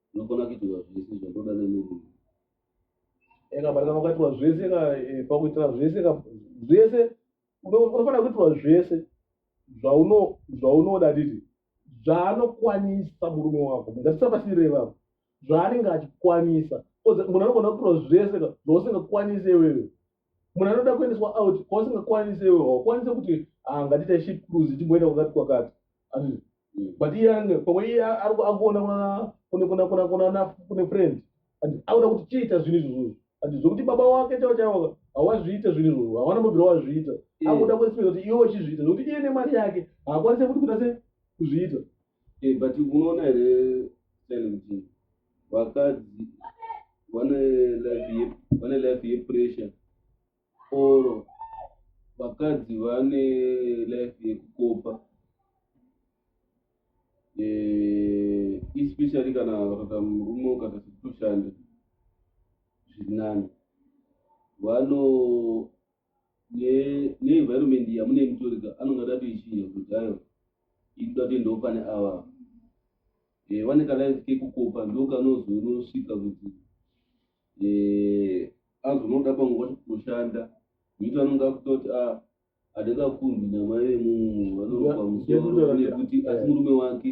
unogona kuitirwa zvese zvakuda nemurume eka mari kana ukaitirwa zvese ka eh, pakuitira zvese ka zvese unofanira kuitirwa zvese zvauno zvaunoda didi zvaanokwanisa murume wako ngatisapasire ivavo zvaanenge achikwanisa munhu anogona kuitirwa zvese ka zvausingakwanise iwewe munhu anoda kuendeswa out kwausingakwanise iwe haukwanise kuti ah, ngatiita ship cruise timboenda kwakati kwakati mm. but iye ange pamwe iye akuona kune friend and auda kuti chiita zvinhu izvozvozvo and zvokuti baba wake chavo chavoka hawazviita zvinhu izvozvo hawana mubvira wazviita mm. akuda kuespera kuti iwe wachizviita zvokuti iye nemari yake haakwanise kuti kuita se kuzviita eh, but unoona here sele kuti vakadzi vane life ye- vane life yepressure or vakadzi vane life yekukopa Eh, especially kana vakaita murume ukata sekutoshanda zvirinani vano neenvironment ne yamune mutorika anonga datoichinja kuti ayo ini tatoendawo pane ava e, eh, vane kalife kekukopa ndokanozonosvika kuti e, eh, azonoda panguva kushanda nekuti anonga akuta kuti a ah, adakakundi namai vemunhu vanoropa musoro nekuti asi murume wake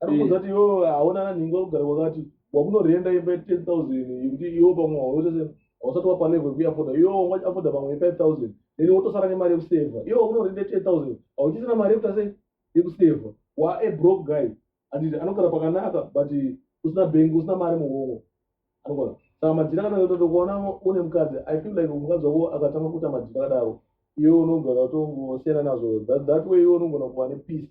ari kuudza kuti iwo haona nanhingi wakugara kwakati wakunorenda imba ye10 000 yekuti iwo pamwe waoese hausati wapa level yekuyafoda iwo wanga afoda pamwe ye5 000 then wotosara nemari yekuseva iwo wakunorenda ye10 000 hauchisina mari yekuta sei yekuseva wa a broke guy anditi anogara pakanaka but usina bengi usina mari muhongo anogona saka majira kana yototo kuona une mukadzi i feel like mukadzi wako akatanga kuita majira kadaro iwe unogona kutongosiyana nazvo that way iwe unogona kuva nepeace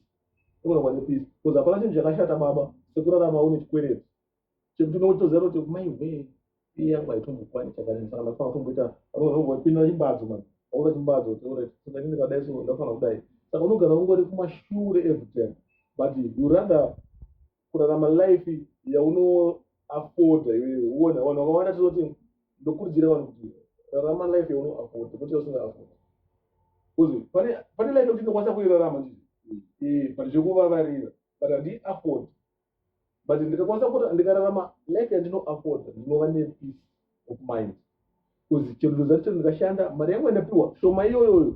Kura wane peace because hapana chinhu chakashata baba sekurarama une chikwereti chekuti unenge uchitoziva kuti mai wee iye yangu haitombokwani chakanini saka ndafana kutomboita vanovaipinda chimbadzo mani vakuda chimbadzo toret saka ini ndikadai so ndafana kudai saka unogara ungori kumashure every time but you rather kurarama life yauno afforda iwewe uone vanhu vakawanda tinoti ndokurudzira vanhu kuti rarama life yauno afforda kuti usinga afforda kuzi pane pane life yekuti ndokwanisa kuirarama ndi eh but zvekuvavarira but handi afford but ndikakwanisa kuti ndikararama life yandino afforda ndinova ne peace of mind kuzi chero ndozati chero ndikashanda mari yangu yandapiwa shoma iyoyoyo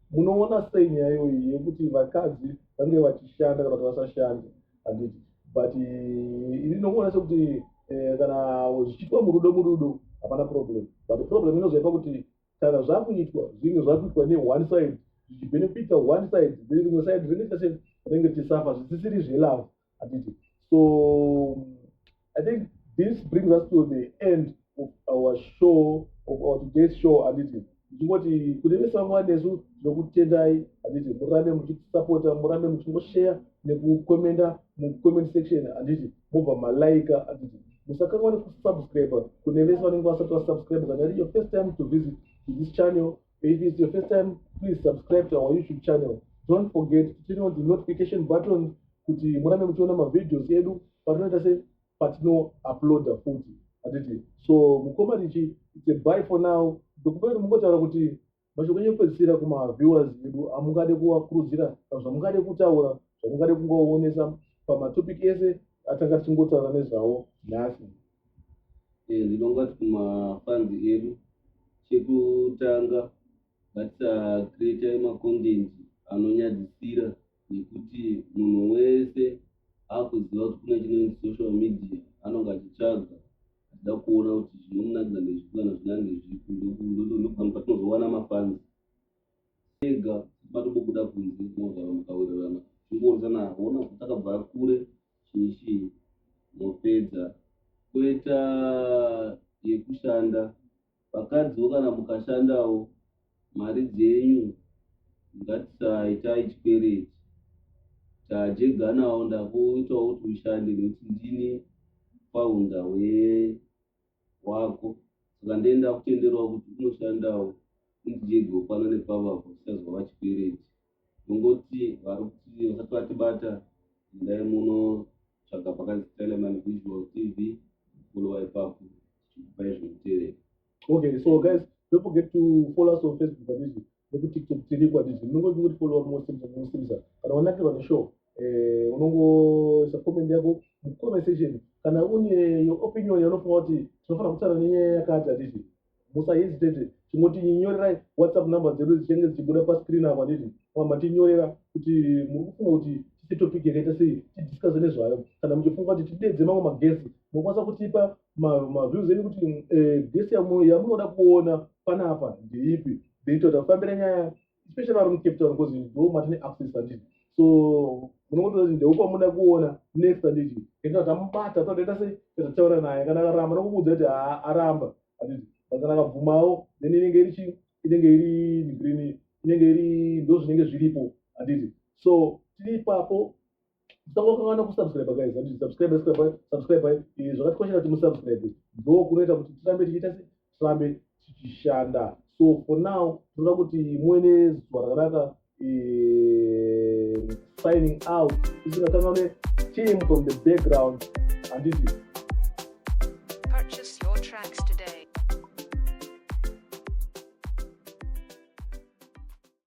munoona sei nyaya iyoyi yekuti vakadzi vange vachishanda kana kuti vasashande handiti but eh, ini ndinokuona sekuti eh, kana zvichiitwa murudo murudo hapana problem but problem inozoipa kuti kana zvakuitwa zvinge zvakuitwa neone side zvichibenefita one side rimwe side rinenge rinenge tisafa zvisisiri zvelove handiti so i think this brings us to the end of our show of our today's show handiti ndichingoti kune vese vamwe vanesu tinokutendai handiti murambe muchitisapota murambe muchingosheya nekukomenda mucomment section handiti mobva malaika handiti musakanwa nekusubscribe kune vese vanenge vasati vasubscribe kana iri your first time to visit this channel If it's your first time, please subscribe to our YouTube channel. Don't forget to turn on the notification button kuti murambe muchiona mavideos edu patinoita se patino uploada futi hatiti so mukoma richi it's a buy for now ndokupa kuti mungotaura kuti mashoko enyu ekupedzisira kumaviewers edu amungade kuvakurudzira kana zvamungade kutaura zvamungade kungoonesa pamatopic ese atanga tichingotaura nezvawo nhasi Eh, zvino ngati kumafanzi edu chekutanga ngatisacreata macontent anonyadzisira nekuti munhu wese akuziva kuti kune chinonzi social media anonge achitsvaga achida kuona kuti zvinomunakidza ndezvipi kana zvinange zvipi ndopamwe patinozowana mafanzi ega matobobuda kunze mogara mukawirirana zvingoonzana ona kuti akabva kure Shishi mopedza. Koita yekushanda. Vakadziwo kana mukashandawo mari dzenyu ngatisaitai chikwereti. Tajeganawo ndakuitawo kuti ushande nekuti ndini founder we wako saka ndee ndakutenderawo kuti unoshandawo undijegewo pano nepavapo tisazova vachikwereti. Tongoti varikuti vasati vatibata endai munotsvaga pakanzi Teleman Visual TV followa ipapo tichikupai zvekutevera. Okay, so guys, don't forget to follow us on Facebook Babizi nekuTikTok tiriko atizi munongoti kuti followa munosimisa munosimisa kana wanakirwa neshow eh, unongoisa comment yako mucomment section kana une your opinion yaunofunga kuti tinofanira kutaura nenyaya yakati atizi musahesitate chimotinyorerai whatsapp number dzedu dzichenge dzichibuda pascreen apa nditi mamba tinyorera kuti muri kufunga kuti tise topic yakaita sei tidiscuse nezvayo kana muchifunga kuti tidedze mamwe magesi mokwanisa kutipa maviews enyu kuti eh, gesi yamunoda kuona panapa ndeipi then totafambira nyaya especially vari mucape town because ndo matine access handiti so munongotoda kuti ndeupamuda kuona next handiti enda tamubata tatoita sei tatataura naye kana akaramba nokukuudza kuti aramba handiti but kana akabvumawo then inenge iri chii inenge iri green inenge iri ndo zvinenge zviripo handiti so tiri ipapo musangokan'ana kusubscribe guys handiti subscribe subscribe eh, zvakatikoshera kuti musubscribe ndo kunoita kuti tirambe tichiita se tirambe tichishanda so for now tinoda kuti muine zuva rakanaka eh, signing out isingakan'ane team from the background handiti